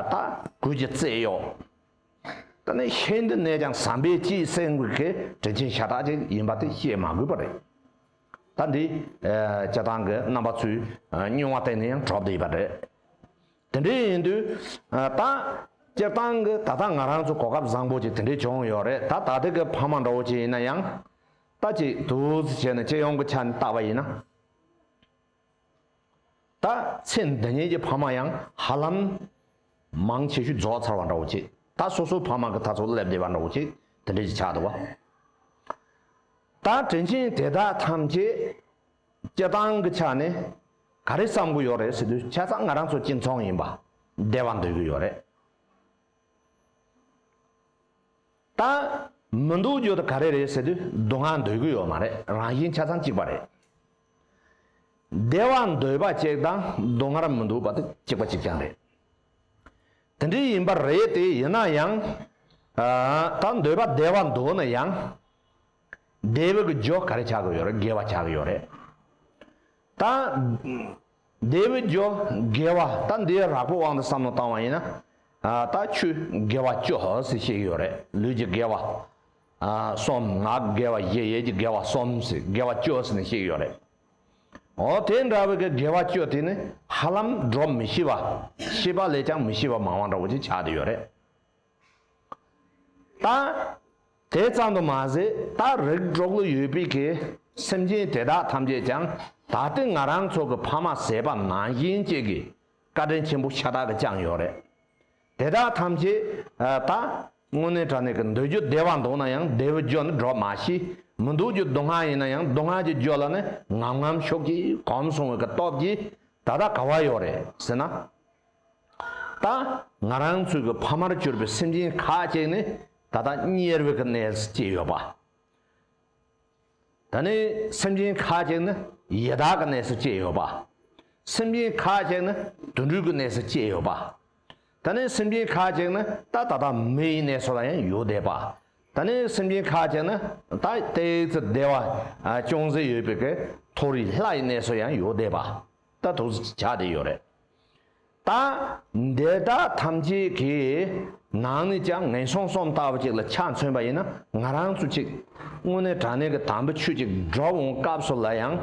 ད་གོས་ཀྱི་བརྩེ་གཡོག། ད་ནི་ཤེས་འདི་ནས་ཀྱང་བསམ་པའི་སྤྱིའི་སེམས་ཀྱི་དྲིན་ཆེན་ཤ་སྟག་ཅིག་ཡིན་པ་དེ་བཤད་མ་དགོས་པ་རེད། ད་འདི་སྤྱི་བཏང་གི་རྣམ་པ་ཚོས་སྨྱུང་བ་གཏན་ནས་ཡང་གྲོགས་བསྡད་པ་རེད། དེ་འདྲས་ཡིན་དུས་ད་སྤྱིར་བཏང་གི་ད་ལྟ་ང་རང་ཚོ་གོ་སྐབས་བཟང་པོ་ཅིག་དེ་འདྲས་བྱུང་ཡོད་རེད་ད་ད་ཐེག་གི་ཕ་མ་འདྲ་བོ་ཅིག་ཡིན་ན་ཡང། ད་ཅིག་དུས་བྱས་ནས་སྤྱི་ཡོངས་ཀྱི་ཆ་ནས་བརྟག་པ་ཡིན་ན། ད་ཚེ་འདི་ཉིད་ཀྱི་ཕ་མ་ཡང་ཧ་ལམ། མང་ཆེ་ཤོས་རྫོགས་ཚར་བ་འདྲ་བོ་ཅིག་ད་སོ་སོའི་ཕ་མ་གི་ད་ཚོ་སླེབས་བསྡད་པ་འདྲ་བོ་ཅིག་དེ་འདྲས་ཀྱི་ཆགས་འདུག་བ། ད་དྲིན་ཆེན་དེ་དག་ཐམས་ཅད་སྐྱེ་སྟངས་ཀྱི་ཆ་ནས་ག་རེ་བསམ་གི་ཡོད་རེད་ཟེར་དུས་ཆ་ཚང་ང་རང་ཚོ་སྐྱེ་འཚོང་ཡིན་པ་བདེ་བ་འདོད་ཀྱི་ཡོད་རེད། ད་མི་འདུག་རྒྱུ་དེ་ག་རེ་རེད་ཟེར་དུས་སྡུག་བསྔལ་འདོད་ཀྱི་ཡོད་མ་རེད་རང་བཞིན་ཆ་ཚང་གཅིག་པ་རེད། བདེ་བ་འདོད་པ་གཅིག་དང་སྡུག་བསྔལ་མི་འདོད་པ་དེ་གཅིག་པ་གཅིག་རྐྱང་རེད། དེ་འདྲའི་ཡིན་པ་རེད་དེ་ཡིན་ན་ཡང། ད་འདོད་པ་བདེ་བ་འདོད་ན་ཡང། བདེ་བའི་གི་རྒྱོ་ག་རེ་བྱ་གི་ཡོད་རེད་དགེ་བ་བྱ་གི་ཡོད་རེད། ད། བདེ་བའི་རྒྱོ་དགེ་བ་ད་འདིའི་རགས་པའི་དབང་དུ་བསམ་བློ་བཏང་བ་ཡིན་ན། ད་ཆུ་དགེ་བ་ཅོ་སི་བྱེད་ཀྱི་ཡོད་རེད་ལུས་ཀྱི་དགེ་བ། གསུམ་ངག་དགེ་བ་བཞི་ཡས་ཀྱི་དགེ་བ་གསུམ་ཟེར་དགེ་བ་བཅུ་ཟེར་ནི་ཞིག་ཡོད་རེད། འོ་དེ་འདྲ་བའི་གི་དགེ་བ་བཅུ་དེ་ནི་ཧ་ལམ་འགྲོ་མི་ཤེས་པ་ཤེས་པ་ལས་ཀྱང་མི་ཤེས་པ་མང་བ་འདྲ་བོ་ཅིག་ཆགས་ཏེ་ཡོད་རེད། ད་དེ་ཙམ་དུ་མ་ཟད་ད་རིགས་དྲུག་ལ་ཡོད་པའི་གི་སེམས་ཅན་དེ་དག་ཐམས་ཅད་ཀྱང་ད་ལྟའི་ང་རང་ཚོ་གི་ཕ་མ་ཟེར་པ་ནང་བཞིན་ཅིག་གི་བཀའ་དྲིན་ཆེན་པོ་ཤ་སྟག་གི་བཅངས་ཡོད་རེད། དེ་དག་ཐམས་ཅད་ད། དངོས་གནས་དྲ་གནས་ཀྱི་འདོད་རྒྱུ་བདེ་བ་འདུག་ན་ཡང་བདེ་བའི་རྒྱུ་ནི་སྒྲོག་མ་ཤེས། མི་འདུག་རྒྱུ་སྡུག་བསྔལ་ཡིན་ན་ཡང་སྡུག་བསྔལ་གྱི་རྒྱུ་ལ་ནི་ངམ་ངམ་ཤོག་ཅིག་གོམས་སོང་བའི་སྟོབས་ཀྱིས་ད་ལྟ་ག་བ་ཡོད་རེད་ཟེར་ན། ད། ང་རང་ཚོའི་གི་ཕ་མར་གྱུར་པའི་སེམས་ཅན་ཁ་ཅིག་ནི་ད་ལྟ་དམྱལ་བའི་གི་གནས་སུ་སྐྱེས་ཡོད་པ། ད་ནི་སེམས་ཅན་ཁ་ཅིག་ནི་ཡི་དྭགས་ཀྱི་གནས་སུ་སྐྱེས་ཡོད་པ། སེམས་ཅན་ཁ་ཅིག་ནི་དུད་འགྲོའི་གྱི་གནས་སུ་སྐྱེས་ཡོད་པ། ད་ནི་སེམས་ཅན་ཁ་ཅིག་ནི་ད་ད་ལྟ་མི་ཡི་གནས་སུ་ལ་ཡང་ཡོད་བསྡད་པ། ད་ནི་སེམས་ཅན་ཁ་ཅིག་ནི་ད་ལྟའི་ཙི་བདེ་བ་ཅུང་ཟད་ཡོད་པའི་གི་མཐོ་རིས་ལྷ་ཡི་གནས་སུ་ཡང་ཡོད་བསྡད་པ། ད་ཐུགས་རྗེ་ཆགས་བསྡད་ཡོད་རེད། ད་འདི་དག་ཐམས་ཅད་ཀྱི་ནང་ནས་ཀྱང་ངན་སོང་སོམ་ལྟ་བུ་ཅིག་ལ་ཆ་མཚོན་པ་ཡིན་ན་ང་རང་ཚོ་ཅིག་དངོས་གནས་དྲ་གནས་ཀྱི་དམ་པའི་ཆོས་ཅིག་སྒྲོག་འོང་སྐབས་སུ་ལ་ཡང་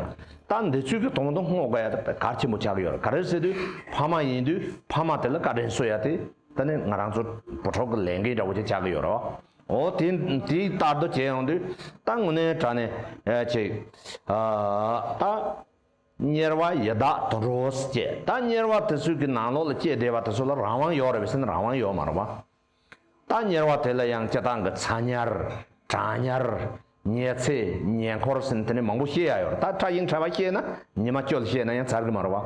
ད་འདི་ཚོས་ཀྱི་དོང་དུ་སྔོག་དགོས་ཡ་ད་གར་ཆེན་པོ་ཆགས་ཀྱི་ཡོད་རེད་ག་རེ་ཟེར་དུས་ཕ་མ་ཡིན་དུས་ཕ་མ་དེ་ལ་བཀའ་དྲིན་གསོལ་ཡ་དེ་ད་ནི་ང་རང་ཚོ་བུ་ཕྲུག་གི་ལས་འགན་འདྲ་བོ་ཅིག་ཆགས་ཀྱི་ཡོད་རེད་འོ་དེ་དེ་ལྟར་དུ་བྱས་ཡོང་དུས་ད་དངོས་གནས་དྲ་གནས་ཅིག་ད། གཉེར་བ་ཡི་དྭགས་དུ་འགྲོ་བས་སྐྱེ། ད་གཉེར་བ་དེ་ཚོའི་གི་ནང་ལོགས་ལ་སྐྱེ་བདེ་བ་དེ་ཚོ་ལ་རང་དབང་ཡོག་རེད་བས་སེམས་རང་དབང་ཡོག་མ་རེད་བ། ད་གཉེར་བ་དེ་ལ་ཡང་སྐྱེ་སྟངས་གི་ཚ་གཉེར། གྲང་གཉེར། ཉལ་ཚེ་ཉལ་འཁོར་སེམས་དེ་ནས་མང་པོ་ཤེས་ཡག་ཡོག་རེད་ད་ཁྲ་ཞིང་ཁྲ་བ་ཤེས་ན་ཉི་མ་སྐྱོལ་ཤེས་ན་ཡང་ཚར་གི་མ་རེད་བ།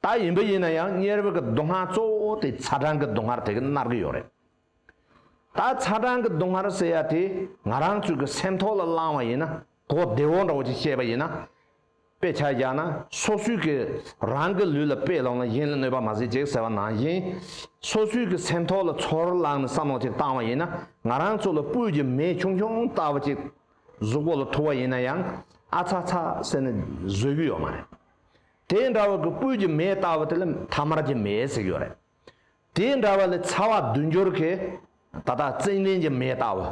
ད་ཡིན་བ་ཡིན་ན་ཡང་གཉེར་བའི་གི་སྡུག་བསྔལ་གཙོ་བོ་དེ་ཚ་གྲང་གི་སྡུག་བསྔལ་དེ་གི་མནར་གི་ཡོག་རེད། ད་ཚ་གྲང་གི་སྡུག་བསྔལ་ཟེར་ཡ་དེ་ང་རང་ཚོས་གི་སེམས་ཐོག་ལ་བླང་བ་ཡིན་ན་གོ་བདེ་བོ་འདྲ་བོ་ཅིག་བཤད་པ་ཡིན་ན། དཔེ་ཆ་རྒྱག་ན་སོ་སོའི་གི་རང་གི་ལུས་ལ་དཔེ་ལོག་ན་གཞན་ལ་གནོད་པ་མ་བཟོས་ཅིག་ཟེར་བ་ནང་བཞིན། སོ་སོའི་གི་སེམས་ཐོག་ལ་ཚོར་བླང་ནས་བསམ་བློ་ཅིག་བཏང་བ་ཡིན་ན་ང་རང་ཚོ་ལ་སྤུས་ཀྱི་མེ་ཆུང་ཆུང་ལྟ་བུ་ཅིག་གཟུགས་པོ་ལ་ཐུག་བ་ཡིན་ན་ཡང་ཨ་ཚ་ཚ་ཟེར་ནས་བཟོད་གི་ཡོད་མ་རེད། དེ་འདྲ་བའི་གི་སྤུས་ཀྱི་མེ་ལྟ་བུ་དེ་ལ་མཐའ་མར་གྱི་མེ་ཟེར་གྱི་ཡོད་རེད། དེ་འདྲ་བ་ལས་ཚ་བ་བསྡུ་འགྱུར་གྱི་ད་ལྟ་བརྩེགས་ལྡན་གྱི་མེ་ལྟ་བུ་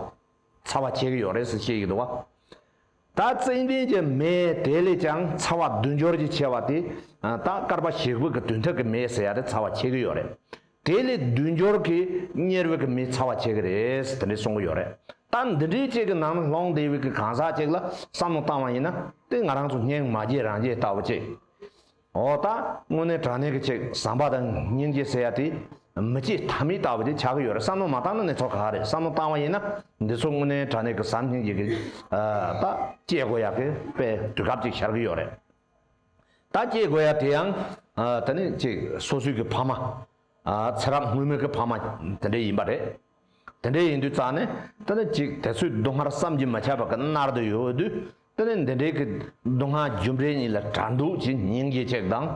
ཚ་བ་བྱེད་ཀྱི་ཡོད་རེད་ཟེར་བཤད་ཀྱི་འདུག་ད་བརྩེགས་ལྡན་གྱི་མེ་དེ་ལས་ཀྱང་ཚ་བ་བསྡུ་འགྱུར་གྱི་ཆེ་བ་དེ་ད་སྐར་པ་ཞིག་བུ་གི་དུས་མཐུག་གི་མེ་ཟེར་ཡ་རེད་ཚ་བ་བྱེད་ཀྱི་ཡོད་རེད་དེ་ལས་བསྡུ་འགྱུར་གྱི་གཉེར་བུ་གི་མེ་ཚ་བ་བྱེད་ཀྱི་རེད་དེ་འདྲས་གསུང་གི་ཡོད་རེད་ད་འདི་འདྲའི་ཅིག་གི་ནང་ན་ལྷོང་དེ་བས་གི་གང་ཟག་ཅིག་ལ་བསམ་བློ་བཏང་བ་ཡིན་ན་དེ་ང་རང་ཚོ་སྙིང་མ་རྗེ་རང་རྗེ་ལྟ་བུ་ཅིག་འོ་ད་དངོས་གནས་དྲང་གནས་ཀྱི་ཆེག་བཟང་པ་དང་སྙིང་རྗེ་ཟེར་ཡ་དེ་མི་སྐྱིད་ཐ་མི་ལྟ་བུ་དེ་ཆགས་ཀྱི་ཡོད་རེད་བསམ་བློ་མ་བཏང་ན་ནི་ཚོ་ག་རེད་བསམ་བློ་བཏང་བ་ཡིན་ན་འདི་ཚོ་དངོས་གནས་དྲང་གནས་ཀྱི་བཟང་སྙིང་རྗེ་ཀྱི་ད་སྐྱེ་དགོས་ཡག་གི་པའི་དུས་སྐབས་ཅིག་ཤར་གྱི་ཡོད་རེད་ད་སྐྱེ་དགོས་ཡག་དེ་ཡང་ད་ནི་ཅིག་སོ་སོའི་ཀྱི་ཕ་མ། ཚེ་རབས་སྔོན་མོའི་གི་ཕ་མ་དེ་འདྲས་ཡིན་པ་རེད། དེ་འདྲས་ཡིན་དུས་རྩ་ནས་ཏི་ནི་ཅིག་དེ་ཚོའི་སྡུག་བསྔལ་བསམ་གྱིས་མི་ཁྱབ་པ་གི་མནར་དུ་ཡོད་འོས་དུས་ཏི་ནི་འདི་འདྲས་གི་སྡུག་བསྔལ་རྒྱུ་འབྲས་གཉིས་ལ་གྲ་འདུག་ཅིག་སྙིང་རྗེ་ཅིག་དང།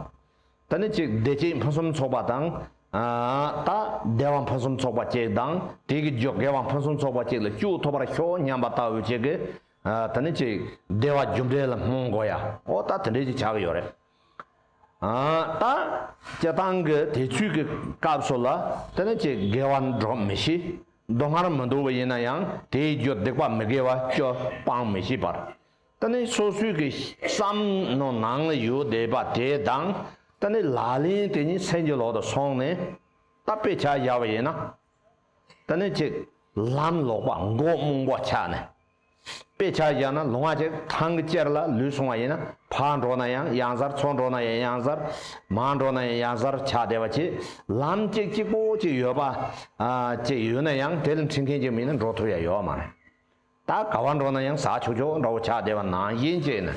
ཏི་ནི་ཅིག་བདེ་སྐྱིད་ཕུན་སུམ་ཚོགས་པ་དང། ད་བདེ་བ་ཕུན་སུམ་ཚོགས་པ་ཅིག་དང་དེའི་གི་རྒྱུ་དགེ་བ་ཕུན་སུམ་ཚོགས་པ་ཅིག་ལ་སྐྱུག་ཐུབ་པར་ཤོག་སྙམ་པ་ལྟ་བུ་ཅིག་གི་ཏི་ནི་ཅིག་བདེ་བ་རྒྱུ་འབྲས་ལ་སྨོན་དགོས་ཡ་ཨོ་ད་དེ་འདྲས་ཅིག་བྱ་གི་ཡོད་རེད། ད་སྤྱི་བཏང་གི་དེ་ཚོས་ཀྱི་སྐབས་སུ་ལ་དེ་ནི་ཀྱི་དགེ་བ་འགྲོ་མི་ཤེས། མདོ་སྔར་མི་འདུ་བ་ཡིན་ན་ཡང་དེའི་རྒྱུ་སྡིག་པ་མི་དགེ་བ་བཅུ་སྤང་མི་ཤེས་པར། དེ་ནི་སོ་སོའི་ཀྱི་བསམ་མནོ་ནང་ཡོད་བསྡད་པ་དེ་དང་དེ་ནི་ལག་ལེན་དེ་ཉིད་སེམས་ཀྱི་ལོག་ཏུ་སོང་ནས་ད་དཔེ་ཆ་བཞག་པ་ཡིན་ན། དེ་ནི་ཀྱི་ལམ་ལོག་པ་མགོ་རྨོངས་པོ་ཆགས་ནས། དཔེ་ཆ་བཞག་ན་ལུང་ཨ་ཅེ་ཐང་གི་གཅེར་ལ་ལུས་སོང་བ་ཡིན་ན་ཕར་འགྲོ་ན་ཡང་གཡང་གཟར་ཚུར་འགྲོ་ན་ཡང་གཡང་གཟར་མར་འགྲོ་ན་ཡང་གཡང་གཟར་ཆགས་བསྡད་པ་གྱིས་ལམ་གཅིག་གཅིག་པོ་གཅིག་ཡོད་པ། ཅིག་ཡོད་ན་ཡང་དེ་ལ་འཁྲིད་མཁན་གཅིག་མིན་ན་འགྲོ་ཐུབ་ཡ་ཡོད་མ་རེད། ད་ག་བ་འགྲོ་ན་ཡང་ཟག་ཆོག་ཆོག་འདྲ་བོ་ཆགས་བསྡད་པ་ནང་བཞིན་གཅིག་ནི།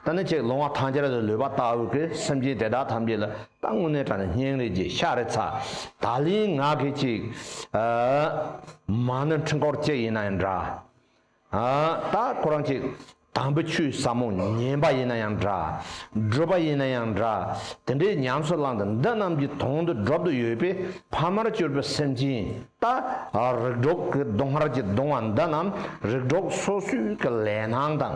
ད་ནི་གཅིག་ལུང་ཨ་ཐང་གཅེར་ལ་ལུས་པ་ལྟ་བུ་གི་སེམས་ཅན་དེ་དག་ཐམས་ཅད་ལ་ད་དངོས་གནས་དྲ་ནི་སྙིང་རེ་རྗེ་ཤ་རེ་ཚ་ད་ལིང་ངག་གིས་གཅིག། མ་ནི་འཕྲུལ་འཁོར་བཅས་ཡིན་ན་ཡང་འདྲ། ད་ཁོ་རང་གཅིག་དམ་བུ་ཆུའི་ཟབ་མོ་ཉན་པ་ཡིན་ན་ཡང་འདྲ། སྒྲུབ་པ་ཡིན་ན་ཡང་འདྲ། དེ་འདྲའི་ཉམས་སུ་བླངས་ཏེ་འདི་རྣམས་ཀྱི་དོན་དུ་སྒྲུབ་ཏུ་ཡོད་པས་ཕ་མར་གྱུར་པའི་སེམས་ཅན་ད་རིགས་གྲོགས་ཀྱི་སྡོང་ཧར་གྱི་སྡོང་བ་འདི་རྣམས་རིགས་གྲོགས་སོ་སོའི་ལས་སྣང་དང་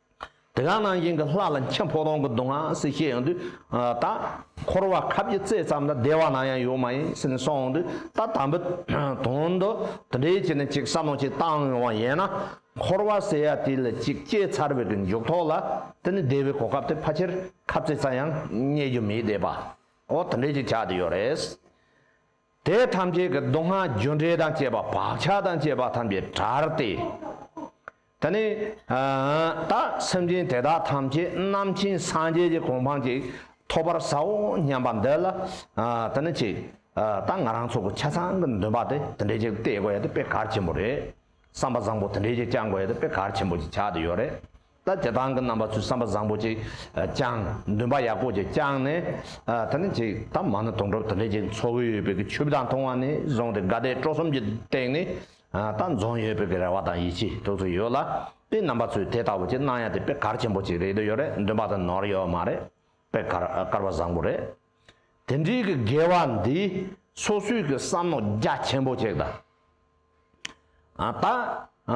དེ་ག་ནང་བཞིན་གྱི་ལྷ་ལ་མཁྱེན་ཕོ་རོང་གི་སྡུག་བསྔལ་སེལ་བྱེད་ཡོང་དུས། ད་འཁོར་བ་ཁ་བརྒྱ་རྩའི་ཙམ་ལ་བདེ་བ་ནང་ཡང་ཡོད་མ་ཡིན་སེམས་སོང་འོང་དུས་ད་དམ་པོའི་དོན་དུ་དེ་འདྲའི་ཆེད་ནས་ཅིག་བསམ་བློ་ཅིག་བཏང་ཡོང་བ་ཡིན་ན། འཁོར་བ་ཟེར་ཡ་དེ་ལ་ཅིག་སྐྱེས་ཚར་བའི་གི་མཇུག་ཐོགས་ལ་དེ་ནི་བདེ་བའི་གོ་སྐབས་དེ་ཕ་ཆེར་ཁབ་རྩེ་ཙམ་ཡང་རྙེད་རྒྱུ་མེད་བསྡད་པའོ་དེ་འདྲའི་ཅིག་བྱ་དེ་ཡོད་རེད། དེ་ཐམས་ཅད་ཀྱི་སྡུག་བསྔལ་རྒྱུ་འབྲས་དང་བཅས་པ་བག་ཆགས་དང་བཅས་པ་ཐམས་ཅད་དགྲར་ཏེ། ད་ནི། ད་སེམས་ཅན་དེ་དག་ཐམས་ཅད་རྣམ་མཁྱེན་སངས་རྒྱས་ཀྱི་གོ་འཕང་ཅིག་ཐོབ་པར་བྱའོ་སྙམ་པ་འདི་ལ། ད་ནི་ཅི། ད་ང་རང་ཚོ་གི་ཆ་ཚང་གི་འདུན་པ་དེ་དེ་འདྲས་ཅིག་གཏད་དགོས་ཡ་དེ་དཔེ་གལ་ཆེན་པོ་རེད། བསམ་པ་བཟང་པོ་དེ་འདྲས་ཅིག་བཅང་དགོས་ཡ་དེ་དཔེ་གལ་ཆེན་པོ་ཅིག་ཆགས་དུ་ཡོད་རེད། ལྟ་བྱེད་དང་གི་རྣམ་པ་ཚུལ་བསམ་པ་བཟང་པོ་ཅིག་བསྐྱང། འདུན་པ་ཡག་པོ་ཅིག་བསྐྱང་ནས། ད་ནི་ཅིག་ད་མ་ནི་དོང་གྲོབ་དེ་འདྲས་ཅིག་འཚོ་གི་ཡོད་པའི་གི་ཆུ་བོ་དག་མཐོང་བ་ནས་བཟུང་སྟེ་དགའ་དད་སྤྲོ་གསུམ་གྱི་སྟེང་ནས། ད་འཛོམས་ཡོད་པའི་གི་རེ་བ་དང་ཡིད་ཆེས་ཐུགས་སུ་ཡོད་ལ། དེའི་རྣམ་པ་ཚུལ་དེ་ལྟ་བུ་ཅིག་སྣང་ཡ་དེ་པེ་གར་ཆེན་པོ་ཅིག་རེད་དེ་ཡོད་རེད་འདུན་པ་དེ་ནོར་ཡོད་མ་རེད། པེ་གར་བཀར་བ་བཟང་པོ་རེད། དེ་འདྲའི་གི་དགེ་བ་འདི་སོ་སོའི་གི་བསམ་མནོ་རྒྱ་ཆེན་པོ་ཅིག་དང། ད།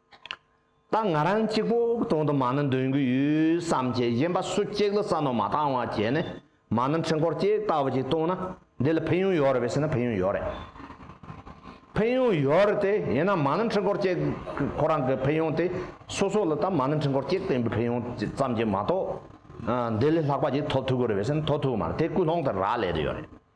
ད་ང་རང་གཅིག་པོ་གྲོང་དུ་མ་ན་འདོན་གྱི་ཡོད་བསམ་གྱིས་གཞན་པ་སུ་གཅིག་ལ་ས་ནོར་མ་བཏང་བ་བྱས་ནས་མ་ན་འཕྲུལ་འཁོར་གཅིག་ལྟ་བུ་ཅིག་བཏུང་ན་འདི་ལ་ཕན་ཡོན་ཡོད་རེད་ཟེར་ན་ཕན་ཡོན་ཡོད་རེད། ཕན་ཡོན་ཡོད་རེད་དེ་ཡིན་ན་མ་ན་འཕྲུལ་འཁོར་གཅིག་ཁོ་རང་གི་ཕན་ཡོན་དེ་སོ་སོ་ལ་ད་མ་ན་འཕྲུལ་འཁོར་གཅིག་བཏོན་པའི་ཕན་ཡོན་ཙམ་གྱིས་མ་གཏོགས་འདི་ལས་ལྷག་པ་ཅིག་ཐོབ་ཐུབ་ཀྱི་རེད་བསམ་ན་ཐོབ་ཐུབ་ཀྱི་མ་རེད་དེ་ཀུན་སློང་དེ་རག་ལས་དེ་ཡོད་རེད།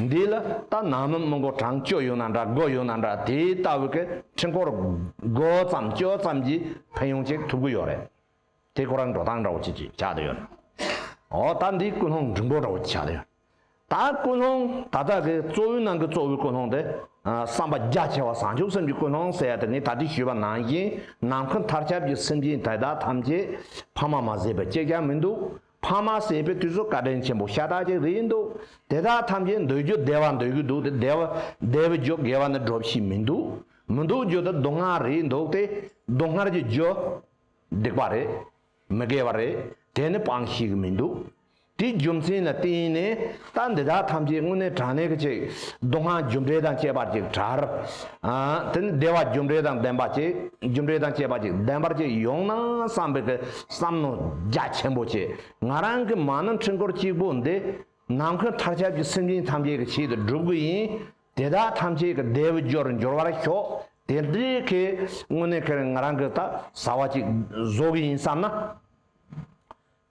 འདི་ལ་ད་ནང་མི་མི་མགོ་གྲང་སྐྱོ་ཡོད་ན་འདྲ་སྒོ་ཡོད་ན་འདྲ་དེའི་ལྟ་བུ་གི་འཕྲིན་སྐོར་སྒོ་ཙམ་སྐྱོ་ཙམ་གྱིས་ཕན་ཡོང་ཅིག་ཐུབ་གི་ཡོད་རེད་དེ་ཁོ་རང་འགྲོ་སྟངས་འདྲ་བོ་ཅིག་ཅིག་ཆགས་དུ་ཡོད་ནའོ་ད་འདི་ཀུན་སློང་འབྲིང་པོ་འདྲ་བོ་ཅིག་ཆགས་དུ་ཡོད་ད་ཀུན་སློང་ད་ལྟ་གི་གཙོ་བོའི་ནང་གི་གཙོ་བོའི་ཀུན་སློང་དེ་བསམ་པ་རྒྱ་ཆེ་བ་བཟང་ཕྱོགས་སེམས་ཀྱི་ཀུན་སློང་ཟེར་ཡ་དེ་ངས་ད་ལྟའི་ཞུས་པ་ནང་བཞིན་ནམ་མཁའ་མཐར་ཁྱབ་ཀྱི་སེམས་ཅན་དེ་དག་ཐམས་ཅད་ཕ་མ་མ་བཟས་པའི་སྐྱེ་རྒ་མི་འདུག་ཕ་མ་ཟེར་པའི་དུས་སུ་བཀའ་དྲིན་ཆེན་པོ་ཤ་སྟག་ཅིག་རེད་འདུག་དེ་དག་ཐམས་ཅད་འདོད་རྒྱུ་བདེ་བ་འདོད་ཀྱི་འདུག་དེ་བདེ་བ་རྒྱུ་དགེ་བ་ནི་སྒྲོབ་བྱེད་མི་འདུག་མི་འདུག་རྒྱུ་དེ་སྡུག་བསྔལ་རེད་འདུག་སྟེ་སྡུག་བསྔལ་གྱི་རྒྱུ། སྡིག་པ་རེད། མི་དགེ་བ་རེད་དེ་ནི་སྤང་ཤེས་ཀྱི་མི་འདུག་དེའི་རྒྱུ་མཚན་ལ་བརྟེན་ནས། རྟ་འདི་དག་ཐམས་ཅད་སྔོན་གནས་གྲངས་གནས་ཀྱི་ཅིག། སྡུག་བསྔལ་རྒྱུ་འབྲས་དང་བཅས་པར་ཅིག་གྲར། དེ་ནི་བདེ་བ་རྒྱུ་འབྲས་དང་ལྡན་པ་ཅིག་རྒྱུ་འབྲས་དང་བཅས་པ་ཅིག་ལྡན་པར་ཅིག་ཡོང་ན་བསམ་པའི་གི་བསམ་མནོ་རྒྱ་ཆེན་པོ་བྱས་ང་རང་གི་མ་ནི་འཕྲུལ་འཁོར་གཅིག་པོ་འདི། ནམ་མཁའི་མཐར་ཁྱབ་ཀྱི་སེམས་ཅན་ཐམས་ཅད་ཀྱི་ཆེད་དུ་བསྒྲུབ་དགོས་ཡིན། དེ་དག་ཐམས་ཅད་ཀྱི་བདེ་བའི་རྒྱུར་འགྱུར་བར་ཤོག་དེ་འདྲའི་གི་སྔོན་གནས་ཁེར་ང་རང་གི་རྟ་ཟ་བ་ཅིག་བཟོ་གི་ཡིན་བསམ་ན།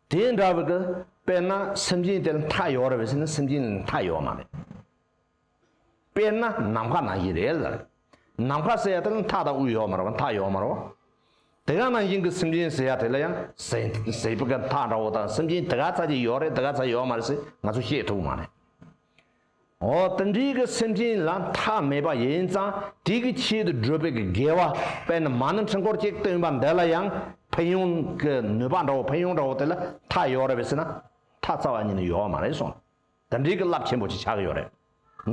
དེ་འདྲ་བར་དུ་དཔེར་ན་སེམས་ཅན་དེར་མཐའ་ཡོད་རེད་བསམ་ན་སེམས་ཅན་ལ་མཐའ་ཡོད་མ་རེད། དཔེར་ན་ནམ་མཁའ་ནང་བཞིན་རེད་ལ། ནམ་མཁའ་ཟེར་ཡ་དེ་ལ་མཐའ་དང་དབུས་ཡོད་མ་རེད་བ་མཐའ་ཡོད་མ་རེད་བ། དེ་ག་ནང་བཞིན་གྱི་སེམས་ཅན་ཟེར་ཡ་དེ་ལ་ཡང་ཟས་ཟས་པ་ག་མཐའ་འདྲ་བོ་དང་སེམས་ཅན་དེ་ག་ཚ་ཅིག་ཡོད་རེད་དེ་ག་ཚ་ཡོད་མ་རེད་ཟེར་ང་ཚོ་ཤེས་ཐུབ་མ་རེད། འོ་དེ་འདྲའི་གི་སེམས་ཅན་ལ་མཐའ་མེད་པ་ཡིན་ཙང་དེ་གི་ཆེད་དུ་བགྲོད་པའི་གི་དགེ་བ་དཔལ་ནི་མ་ནི་འཕྲིན་སྐོར་གཅིག་སྟོན་པ་འདི་ལ་ཡང་ཕན་ཡོང་གི་ནུས་པ་འདྲ་བོ་ཕན་ཡོང་འདྲ་བོ་དེ་ལ་མཐའ་ཡོད་རེད་བས་སེ་ན་མཐའ་རྩ་བ་ཉིད་ནི་ཡོད་བ་མ་རེད་སོང་དེ་འདྲའི་གི་རླབས་ཆེན་པོ་ཅིག་ཆགས་གི་ཡོད་རེད།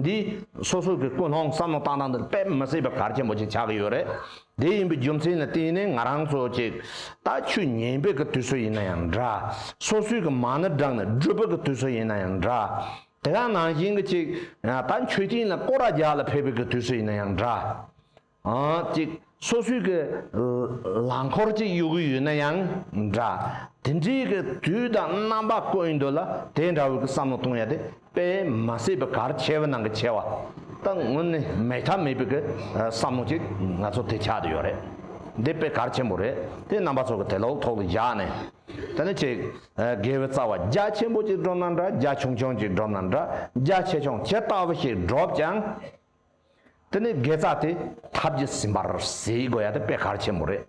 འདི་སོ་སོ་གི་ཀུན་སློང་བསམ་བློ་བཏང་སྟངས་འདི་དཔེ་མི་སྲིད་པའི་གར་ཆེན་པོ་ཅིག་ཆགས་གི་ཡོད་རེད། དེ་ཡིན་པའི་རྒྱུ་མཚན་ནི་དེ་ནི་ང་རང་ཚོ་ཅིག་ད་ཆུ་ཉེན་པའི་གི་དུས་སུ་ཡིན་ན་ཡང་འདྲ། སོ་སོའི་གི་མ་ནི་བསྒྲགས་ནས་བགྲོད་པའི་གི་དུས་སུ་ཡིན་ན་ཡང་འདྲ། དེ་སྔ་ནང་བཞིན་གྱི་ཅིག། ད་མཆོད་སྤྱིན་ལ་སྐོར་ར་རྒྱག་ལ་ཕེབས་པའི་དུས་སུ་ཡིན་ན་ཡང་འདྲ། ཅིག། སོ་སོའི་གི་ལང་འཁོར་ཅིག་གཡུག་གི་ཡོད་ན་ཡང་འདྲ། དེ་འདྲའི་གི་དུས་དང་རྣམ་པ་བཀོད་ཡིན་འདོད་ལ་དེ་འདྲ་བོའི་གི་བསམ་བློ་གཏོང་ཡ་དེ་དཔེ་མ་བསད་པའི་གར་ཆེ་བ་ནང་གི་ཆེ་བ། ད་ངོ་ནས་མེད་མཐའ་མེད་པའི་གི་བསམ་བློ་ཅིག་ང་ཚོ་དེ་ཆགས་དུ་ཡོད་རེད། འདི་དཔེ་གར་ཆེན་པོ་རེད་དེ་རྣམ་པ་ཚོ་གི་དེ་ལོག་ཐོག་ལ་བཞག་ནས། དེ་ནི་ཆེས་དགེ་བའི་རྩ་བ་རྒྱ་ཆེན་པོ་གཅིག་བསྒྲུབས་ན་འདྲ་རྒྱ་ཆུང་ཆུང་གཅིག་བསྒྲུབས་ན་འདྲ་རྒྱ་ཆེ་ཆུང་ཇི་ལྟ་བུ་ཞིག་བསྒྲུབས་ཀྱང། དེ་ནི་དགེ་རྩ་དེ་ཐབས་ཀྱིས་ཟིན་པར་ཟེར་དགོས་ཡ་དེ་དཔེ་གལ་ཆེན་པོ་རེད།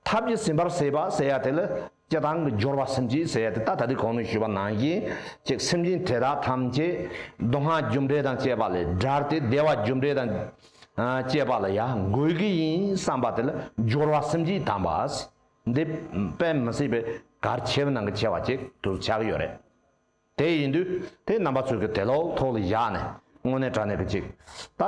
ཐབས་ཀྱིས་ཟིན་པར་ཟེར་བ་ཟེར་ཡ་དེ་ལ་སྤྱི་དང་གི་སྦྱོར་བ་སེམས་ཀྱིས་ཟེར་ཡ་དེ་ད་ལྟ་དེ་གོང་ནས་ཞུས་པ་ནང་བཞིན་གཅིག་སེམས་ཅན་དེ་དག་ཐམས་ཅད་སྡུག་བསྔལ་རྒྱུ་འབྲས་དང་བཅས་པ་ལས་དགྲར་ཏེ་བདེ་བ་རྒྱུ་འབྲས་དང་བཅས་པ་ལ་ཡ་དགོས་ཀྱི་ཡིན་བསམ་པ་དེ་ལ་སྦྱོར་བ་སེམས་ཀྱིས་དམ་པ། འདི་དཔེ་མི་སྲིད་པའི་གར་ཆེ་བ་ནང་གི་ཆེ་བ་ཅིག་ཏུ་ཆགས་ཀྱི་ཡོད་རེད། དེ་ཡིན་དུས་དེ་རྣམ་པ་ཚོས་ཀྱི་དེ་ལོག་ཐོག་ལ་བཞག་ནས་དངོས་གནས་དྲ་གནས་ཀྱི་ཅིག་ལྟ་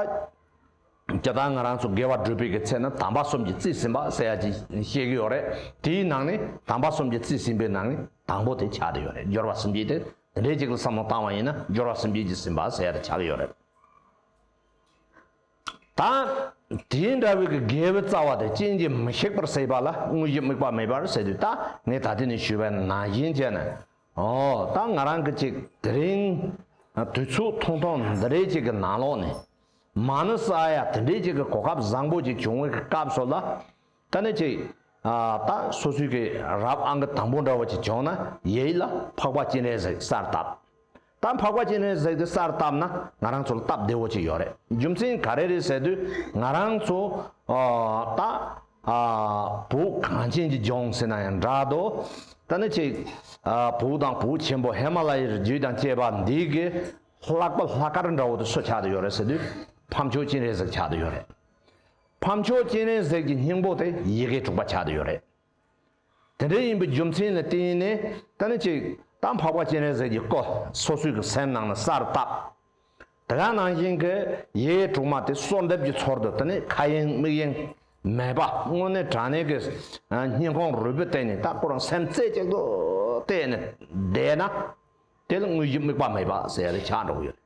ཅི་ལྟར་ང་རང་ཚོ་དགེ་བ་སྒྲུབ་པའི་གི་ཚེ་ན་དམ་པ་གསུམ་གྱི་རྩིས་ཟིན་པ་ཟེར་ཡ་ཅིག་ཤེས་ཀྱི་ཡོད་རེད་དེའི་ནང་ནས་དམ་པ་གསུམ་གྱི་རྩིས་ཟིན་པའི་ནང་ནས་དང་པོ་དེ་ཆགས་ཀྱི་ཡོད་རེད་སྦྱོར་བ་གསུམ་བརྒྱད་དེ་འདྲའི་ཅིག་ལ་བསམ་བློ་བཏང་བ་ཡིན་ན་སྦྱོར་བ་གསུམ་བརྒྱད་ཀྱི་ཟིན་པ་ཟེར་ཡ་དེ་ཆགས་ཀྱི་ཡོད་རེད། དང། དེ་འདྲ་བའི་གི་དགེ་བའི་རྩ་བ་དེ་རྐྱེན་གྱིས་མི་ཤིགས་པར་བསྲེགས་པ་ལ་དངོས་གཞི་དམིགས་པ་མེད་པར་བསྲེགས་དུས་ད་ངས་ད་ལྟའི་ནས་ཞུས་པའི་ནང་བཞིན་བྱས་ནས། ཨོ། ད་ང་རང་གི་ཅིག་དེ་རིང། དུས་ཚོད་ཐུང་ཐུང་འདི་འདྲའི་ཅིག་གི་ནང་ལོགས་ནས། མ་ནི་ས་ཡ་དེ་འདྲའི་ཅིག་གི་གོ་སྐབས་བཟང་པོ་ཅིག་བྱུང་བའི་གི་སྐབས་སུ་ལ། ད་ནི་ཅིག། ད་སོ་སོའི་གི་རབ་ཨང་གི་དང་པོ་འདྲ་བ་ཅིག་བྱུང་ན་ཡི་ཡིད་ལ་འཕགས་པ་སྤྱན་རས་གཟིགས་གསར་བཏབ། ད་འཕགས་པ་སྤྱན་རས་གཟིགས་འདི་གསར་བཏབ་ན་ང་རང་ཚོ་ལ་སྟབས་བདེ་བོ་ཅིག་ཡོད་རེད་རྒྱུ་མཚན་ག་རེ་རེད་ཟེར་དུས་ང་རང་ཚོ། ད། བུ་གངས་ཅན་གྱི་ལྗོངས་ཟེར་ན་ཡང་འདྲ་དོ། ད་ནི་ཅིག། བུ་དང་བུ་ཆེན་པོ་ཧེ་མ་ལ་ཡི་རི་རྒྱུད་དང་བཅས་པ་འདི་གི་ལྷག་པ་ལྷག་དཀར་འདྲ་བོ་དུ་སུ་ཆགས་དུ་ཡོད་རེད་ཟེར་དུས་ཕམ་ཆོས་སྤྱན་རས་གཟིགས་ཆགས་དུ་ཡོད་རེད། ཕམ་མཆོག་སྤྱན་རས་གཟིགས་ཀྱི་སྙིང་པོ་དེ་ཡི་གེ་དྲུག་པ་ཆགས་ཏུ་ཡོད་རེད། དེ་འདྲ་ཡིན་པའི་རྒྱུ་མཚན་ལ་བརྟེན་ནས་ད་ནི་ཅིག་དང་འཕགས་པ་སྤྱན་རས་གཟིགས་ཀྱི་སྐོར་སོ་སོའི་གི་སེམས་ནང་ན་གསར་བཏགས་དེ་ག་ནང་བཞིན་གི་ཡི་གེ་དྲུག་མ་དེ་གསོལ་འདེབས་ཀྱི་ཚོར་དུ་དེ་ནི་ཁ་གཡེང་མིག་གཡེང་མེད་པ་དངོས་གནས་དྲང་གནས་ཀྱི་སྙིང་ཁོང་རུས་པའི་སྟེང་ནས་ད་ཁོ་རང་སེམས་རྩེ་གཅིག་ཏུ་གཏད་ནས་བསྡད་ན་དེ་ལ་དངོས་གཞི་དམིགས་པ་མེད་པ་ཟེར་ཡ་ལས་ཆགས་འགྲོ་གི་ཡོད་རེད།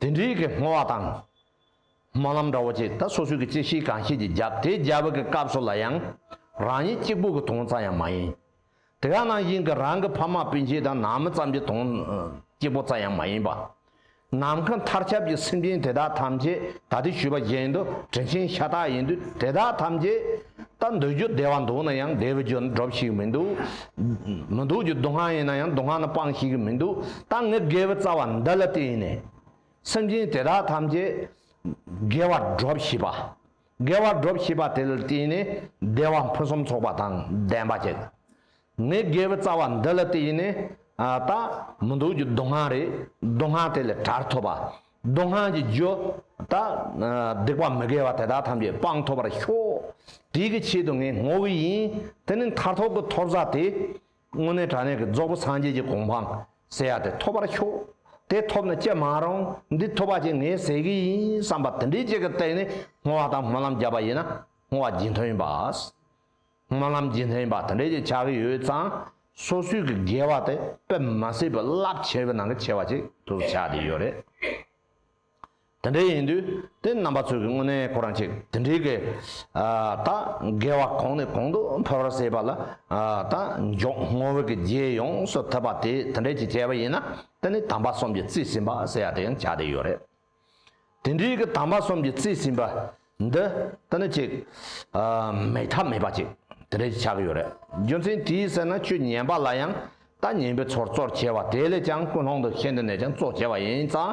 དེ་འདྲའི་གི་བསྔོ་བ་དང། སྨོན་ལམ་འདྲ་བོ་བཅས་ད་སོ་སོའི་གི་བཅད་ཤེས་གང་ཤེས་ཀྱིས་བརྒྱབ་དེ་བརྒྱབ་པའི་གི་སྐབས་སུ་ལ་ཡང་རང་ཉིད་གཅིག་པོ་གི་དོང་ཙམ་ཡང་མ་ཡིན། དེ་ག་ནང་བཞིན་གི་རང་གི་ཕ་མ་སྤུན་མཆེད་དང་ནང་མི་ཙམ་གྱི་དོང་གཅིག་པོ་ཙམ་ཡང་མ་ཡིན་པ། ནམ་མཁའ་མཐར་ཁྱབ་ཀྱི་སེམས་ཅན་དེ་དག་ཐམས་ཅད་ད་དེ་ཞུས་པ་བཞིན་དུ་དྲིན་ཆེན་ཤ་སྟག་ཡིན་དུས་དེ་དག་ཐམས་ཅད་ད་འདོད་རྒྱུ་བདེ་བ་འདུག་ན་ཡང་བདེ་བའི་རྒྱུ་ན་སྒྲོབ་ཤེས་ཀྱི་མི་འདུག། མི་འདུག་རྒྱུ་སྡུག་བསྔལ་ཡིན་ན་ཡང་སྡུག་བསྔལ་ན་སྤང་ཤེས་ཀྱི་མི་འདུག་ད་ངས་དགེ་བའི་རྩ་བ་འདི་ལ་བརྟེན་ནས། སེམས་ཅན་དེ་དག་ཐམས་ཅད་དགེ་བར་སྒྲོབ་ཤེས་པ། དགེ་བར་སྒྲོབ་ཤེས་པ་དེ་ལ་བརྟེན་ནས་བདེ་བ་ཕུན་སུམ་ཚོགས་པ་དང་ལྡན་པ་བསྐྱེད། ངའི་དགེ་བའི་རྩ་བ་འདི་ལ་དེ་ཡིན་ནས་ད་མི་འདུག་རྒྱུ་སྡུག་བསྔལ་རེད་སྡུག་བསྔལ་དེ་ལས་གྲར་ཐོབ་པ། སྡུག་བསྔལ་གྱི་རྒྱུ། ད་སྡིག་པ་མི་དགེ་བ་དེ་དག་ཐམས་ཅད་སྤངས་ཐོབ་པར་ཤོག། དེའི་གི་ཆེད་དུ་ངས་བསྔོ་བས་ཡིན། དེ་ནི་མཐར་ཐོབ་ཀྱི་ཐོབ་ས་དེ། དངོས་གནས་དྲ་གནས་ཀྱི་རྫོགས་པོ་སངས་རྒྱས་ཀྱི་གོ་འཕང་ཟེར་ཡ་དེ་ཐོབ་པར་ཤོག། དེ་ཐོབ་ནས་ཅི་མ་རུང་འདི་ཐོབ་པ་ཅིག་ངས་ཟེར་གྱི་ཡིན་བསམ་པ་དེ་འདྲའི་ཅིག་གི་སྟེང་ནས་བསྔོ་བ་དང་སྨོན་ལམ་བརྒྱབ་པ་ཡིན་ན་བསྔོ་བ་རྒྱུན་ཐོན་ཡིན་པ། སྨོན་ལམ་རྗེས་ལྷན་པ་དེ་འདྲས་ཀྱི་ཆགས་ཀྱི་ཡོད་ཙང་སོ་སོས་གི་དགེ་བ་དེ་དཔེ་མ་སྲིད་པའི་རླབས་ཆེ་བའི་ནང་གི་ཆེ་བ་ཅིག་ཏུ་ཆགས་ཀྱི་ཡོད་རེད། དེ་འདྲས་ཡིན་དུས་དེ་རྣམ་པ་ཚོས་གི་དངོས་གནས་ཁོ་རང་ཅིག་དེ་འདྲས་གི་ད་དགེ་བ་གོང་ནས་གོང་དུ་འཕེལ་བར་བྱེད་པ་ལ་ད་མགྱོགས་སྔོ་བས་གི་རྗེས་ཡོངས་སུ་ཐེབས་པ་དེ་དེ་འདྲས་ཀྱི་བྱས་པ་ཡིན་ན་དེ་ནི་དམ་པ་གསུམ་གྱི་རྩིས་ཟིན་པ་ཟེར་ཡག་དེ་ཡང་ཆགས་བསྡད་ཡོད་རེད། དེ་འདྲའི་གི་དམ་པ་གསུམ་གྱི་རྩིས་ཟིན་པ་འདི་དེ་ནི་ཅིག་མེད་ཐབས་མེད་པ་ཅིག་དེ་འདྲའི་ཆགས་ཀྱི་ཡོད་རེད་རྒྱུ་མཚན་དེའི་ཟེར་ན་ཆོས་ཉན་པ་ལ་ཡང་ལྟ་ཉན་པའི་ཚོར་གཙོར་བྱས་བ་དེ་ལས་ཀྱང་ཀུན་སློང་འདུ་ཤེས་འདི་ནས་ཀྱང་གཙོ་བྱས་བ་ཡིན་ཙང་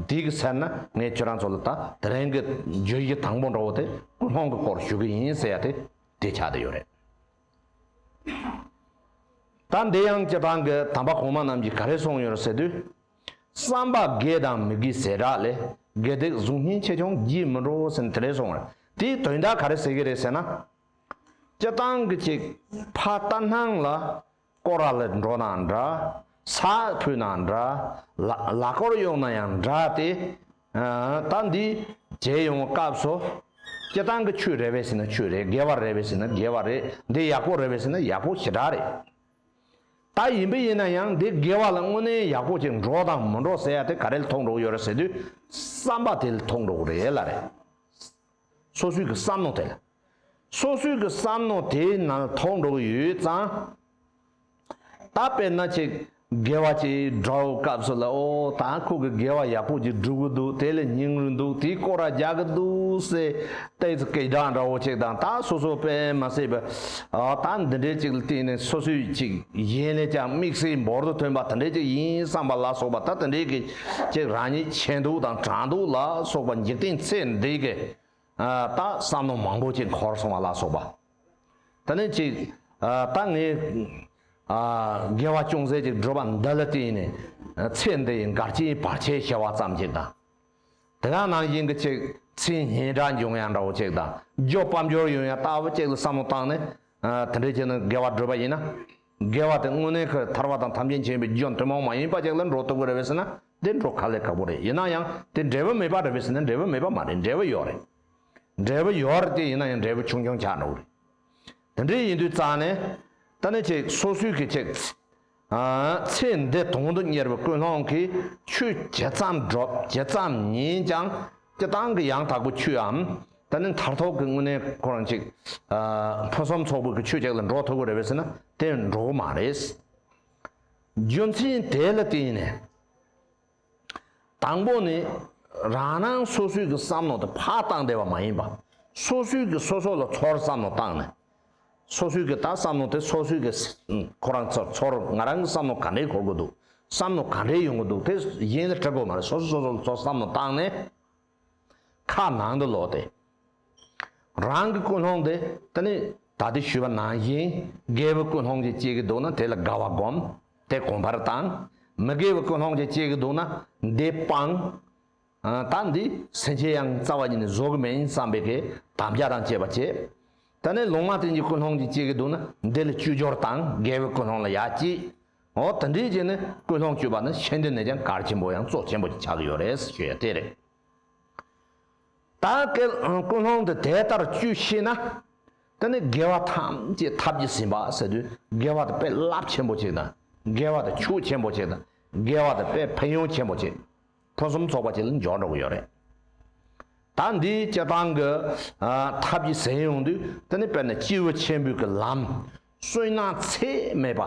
འདི་གི་ཟེར་ན་ངས་ཁྱོད་རང་ཚོ་ལ་ད་དེ་རིང་གི་བརྗོད་གཞི་དང་པོ་འགྲོ་བོ་དེ་ཀུན་སློང་གི་སྐོར་ཞུ་གི་ཡིན་ཟེར་ཡ་དེ་དེ་ཆགས་དེ་ཡོད་རེད། ད་འདི་ཡང་ཀྱི་རང་གི་དམ་པ་གོང་མ་རྣམས་ཀྱིས་ག་རེ་གསུངས་ཡོད་རེད་ཟེར་དུས། བསམ་པ་དགེ་དང་མི་དགེ་ཟེར་གྲགས་ལས་དགེ་སྡིག་གཟུགས་བརྙན་ཆེ་ཆུང་བགྱིད་མི་འགྲོ་ཟེར་ནས་དེ་རེད་སོང་བས་དེའི་དོན་དག་ག་རེ་ཟེར་གྱི་རེད་ཟེར་ན། སྤྱི་བཏང་གི་ཅིག་ཕ་རྟ་སྣང་ལ་སྐོར་ར་ལས་འགྲོ་ན་འདྲ། ས་འཕུད་ན་འདྲ། ལ་སྐོར་གཡོག་ན་ཡང་འདྲ་སྟེ། ད་འདི་བྱེད་ཡོང་བའི་སྐབས་སུ། སྤྱི་བཏང་གི་ཆོས་རེད་བས་ཟེར་ན་ཆོས་རེད་དགེ་བ་རེད་བས་ཟེར་ན་དགེ་བ་རེད་འདི་ཡག་པོ་རེད་བས་ཟེར་ན་ཡག་པོ་ཞེ་དྲག་རེད། ད་ཡིན་པས་ཡིན་ན་ཡང་འདི་དགེ་བ་ལ་དངོས་གནས་ཡག་པོ་གཅིག་འགྲོ་དང་མི་འགྲོ་ཟེར་ཡ་དེ་ག་རེ་ལ་ཐོགས་འགྲོ་ཡོད་རེད་ཟེར་དུས་བསམ་པ་དེ་ལ་ཐོགས་འགྲོ་གི་རེད་ལ་རེད། སོ་སོའི་གི་བསམ་མནོ་དེ་ལ། སོ་སོའི་གི་བསམ་མནོ་དེའི་ནང་ལ་ཐོགས་འགྲོ་གི་ཡོད་ཙང། ད་དཔེར་ན་ཆེ་དགེ་བ་གཅིག་འགྲོ་བའི་སྐབས་སུ་ལ་ཨོ་ད་ཁོ་གི་དགེ་བ་ཡག་པོ་གཅིག་བསྒྲུབ་གི་འདུག་དེ་ལ་སྙིང་རུས་འདུག་དེའི་སྐོར་ར་རྒྱག་གི་འདུག་ཟེར། ཏའི་ཙི་སྐད་གདངས་འདྲ་བོ་གཅིག་དང་ད་སོ་སོ་དཔེ་མ་བསྲེས་པའི་ད་འདི་འདྲའི་ཅིག་ལ་བརྟེན་ནས་སོ་སོའི་ཅིག་གཞན་ལས་ཀྱང་དམིགས་བསལ་འབོར་དུ་ཐོན་པ་དེ་འདྲའི་ཅིག་ཡིན་བསམ་པ་ལ་སོགས་པ་ད་དེ་འདྲའི་གི་ཅིག་རང་ཉིད་ཆེ་འདུག་དང་གྲང་འདུག་ལ་སོགས་པ་འཇིག་རྟེན་ཚེ་འདི་གི་ད་བསམ་མནོ་མང་པོ་ཅིག་འཁོར་སོང་བ་ལ་སོགས་པ་དེ་ནི་ཅིག་ད་ངས་དགེ་བ་ཅུང་ཟད་ཅིག་བསྒྲུབས་པ་འདི་ལ་བརྟེན་ནས་ཚེ་འདི་ཡི་འགར་སྐྱེ་བར་བྱའི་བྱ་བ་ཙམ་ཅིག་དང། དེ་དག་ནང་བཞིན་གྱི་ཚིག་ཚིག་ཉིད་འདྲ་འབྱུང་ཡང་འདྲ་བོ་གཅིག་དང་རྒྱུ་སྤམ་སྦྱོར་ཡོད་ཡང་ལྟ་བུ་གཅིག་ལ་བསམ་བློ་བཏང་ནས། དེ་འདྲའི་ཆེད་དུ་དགེ་བ་བསྒྲུབ་པ་ཡིན་ན། དགེ་བ་དེ་དངོས་གནས་ཁོས་ཐར་བ་དང་ཐམས་ཅད་མཁྱེན་པའི་རྒྱུ་ཐུན་མོང་མ་ཡིན་པ་ཅིག་ལ་འགྲོ་ཐུབ་ཀྱི་རེད་བས་ཟེར་ན་དེ་འགྲོ་ག་ལས་ཁག་པོ་རེད་ཡིན་ན་ཡང་དེ་འབྲས་བུ་མེད་པ་རེད་བས་ཟེར་ན་འབྲས་བུ་མེད་པ་མ་རེད་འབྲས་བུ་ཡོད་རེད། འབྲས་བུ་ཡོད་རེད་དེ་ཡིན་ན་ཡང་འབྲས་བུ་ཆུང་ཆུང་ཆགས་འགྲོ་གི་རེད། དེ་འདྲའི་ཡིན་དུས་རྩ་ནས། ད་ནི་ཅིག་སོ་སོའི་གི་ཅིག། ཚེ་འདི་དོང་དུ་གཉེར་བའི་ཀུན་སློང་གི་ཆུ་ཇི་ཙམ་སྒྲོག་ཇི་ཙམ་ཉིན་ཀྱང་སྤྱི་བཏང་གི་ཡང་དག་པའི་ཆུའམ། ད་ནི་མཐར་ཐོག་གི་དངོས་གནས་ཁོ་རང་ཅིག། ཕུན་སུམ་ཚོགས་པའི་གི་ཆུ་ཅིག་ལ་འགྲོ་ཐུབ་ཀྱི་རེད་བས་ཟེར་ན་དེ་འགྲོ་གི་མ་རེད། རྒྱུ་མཚན་དེ་ལ་བརྟེན་ནས། དང་པོ་ནི། རང་རང་སོ་སོའི་གི་བསམ་མནོ་དེ་ཕར་བཏང་བསྡད་པ་མ་ཡིན་པ། སོ་སོའི་གི་སོ་སོ་ལ་ཚོར་བསམ་མནོ་བཏང་ནས། སོ་སོའི་གི་ད་བསམ་མནོ་དེ་སོ་སོའི་གི་ཁོ་རང་ཚོར་ཚོར་ང་རང་གི་བསམ་མནོ་ག་འདྲའི་གོ་དགོས་འདུག་བསམ་མནོ་ག་འདྲའི་ཡོང་གི་འདུག་དེ་གཞན་ལ་དྲི་དགོས་མ་རེད་སོ་སོས་སོ་སོ་ལ་ཚོར་བསམ་མནོ་བཏང་ནས། ཁ་ནང་དུ་ལོག་སྟེ། རང་གི་ཀུན་སློང་དེ་དེ་ནི་ད་ལྟའི་ཞུས་པ་ནང་བཞིན་དགེ་བའི་ཀུན་སློང་ཅན་སྐྱེ་གི་འདུག་ན་དེ་ལ་དགའ་བ་སྒོམ། དེ་གོམས་པར་བཏང། མི་དགེ་བའི་ཀུན་སློང་ཅན་སྐྱེ་གི་འདུག་ན་འདི་སྤང། ད་འདི་ཟིན་བྱས་ཡང་རྩ་བ་ཉིད་ནས་བཟོ་གི་མིན་བསམ་པའི་གི་དམ་བཅའ་དང་བཅས་པ་བྱས། དེ་ནས་ལུང་མ་བསྟན་གྱི་ཀུན་སློང་ཅན་སྐྱེ་གི་འདུག་ན་འདི་ལ་བཅུད་སྦྱོར་དང་དགེ་བའི་ཀུན་སློང་ལ་ཡ་བསྐྱེད། འོ་ད་འདིའི་རྗེས་ནས་ཀུན་སློང་བཅོས་པ་ནི་ཆེན་འདི་ནས་ཀྱང་གར་ཆེན་པོ་ཡང་གཙོ་ཆེན་པོ་ཞིག་ཆགས་ཀྱི་ཡོད་རེད་ཟེར་ཞོད་ཡ་དེ་རེད། ད་ཀལ་ཀུན་སློང་འདི་དེ་ལྟར་བཅོས་ཤེས་ན། དེ་ནི་དགེ་བ་ཐམས་ཅད་ཐབས་ཀྱིས་ཟིན་པ་ཟེར་དུས་དགེ་བ་དེ་དཔེ་རླབས་ཆེན་པོ་ཅིག་དང་དགེ་བ་དེ་ཕྱུག་ཆེན་པོ་ཅིག་དང་དགེ་བ་དེ་དཔེ་ཕན་ཡོན་ཆེན་པོ་ཅིག་ཕུན་སུམ་ཚོགས་པ་ཅིག་ལ་འཇོག་འགྲོ་གི་ཡོད་རེད། ད་འདིའི་སྤྱི་བཏང་གི་ཐབས་ཀྱིས་ཟིན་ཡོང་དུས་དེ་ནི་དཔེར་ན་སྤྱི་བོ་ཆེན་པོའི་གི་ལམ། བསོད་ནམས་ཚད་མེད་པ།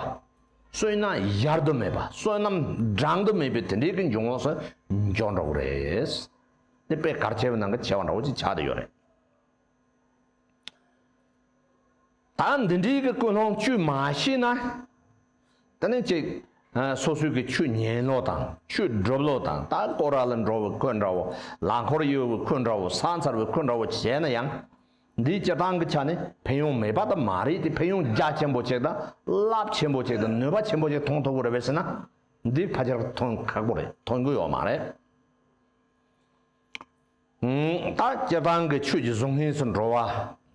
བསོད་ནམས་ཡར་དུ་མེད་པ་བསོད་ནམས་འགྲངས་དུ་མེད་པའི་དེ་འདྲའི་གི་འབྱུང་བ་སུ་འཇོག་འགྲོ་གི་རེད། དེ་དཔེ་གར་བྱེད་པའི་ནང་གི་བྱེད་པ་འདྲ་བོ་ཅིག་ཆགས་དུ་ཡོད་རེད། ད་འདི་འདྲའི་གི་ཀུན་སློང་བཅོས་མ་ཤེས་ན། ད་ནི་ཅིག། སོ་སོའི་གི་ཆོས་ཉན་ལོག་དང་ཆོས་སྒྲུབ་ལོག་དང་ད་ཀོ་ར་ལ་འགྲོ་བའི་ཁོད་འདྲ་བོ་ལ་འཁོར་གཡོལ་བའི་ཁོད་འདྲ་བོ་ས་མཚར་བའི་ཁོད་འདྲ་བོ་བྱས་ན་ཡང། འདིའི་སྤྱིར་བཏང་གི་ཆ་ནི་ཕན་ཡོང་མེད་པ་དང་མ་རེད་དེ་ཕན་ཡོང་རྒྱ་ཆེན་པོ་ཅིག་དང་རླབས་ཆེན་པོ་ཅིག་དང་ནུས་པ་ཆེན་པོ་ཅིག་ཐོང་ཐུབ་ཀི་རེད་བས་སེ་ན། འདི་ཕ་ཆེར་ཐོན་ཁག་པོ་རེད་ཐོན་གི་ཡོད་མ་རེད། ད་སྐྱེ་སྟངས་ཀྱི་ཆོས་ཀྱི་གཟུགས་ངན་སུ་འགྲོ་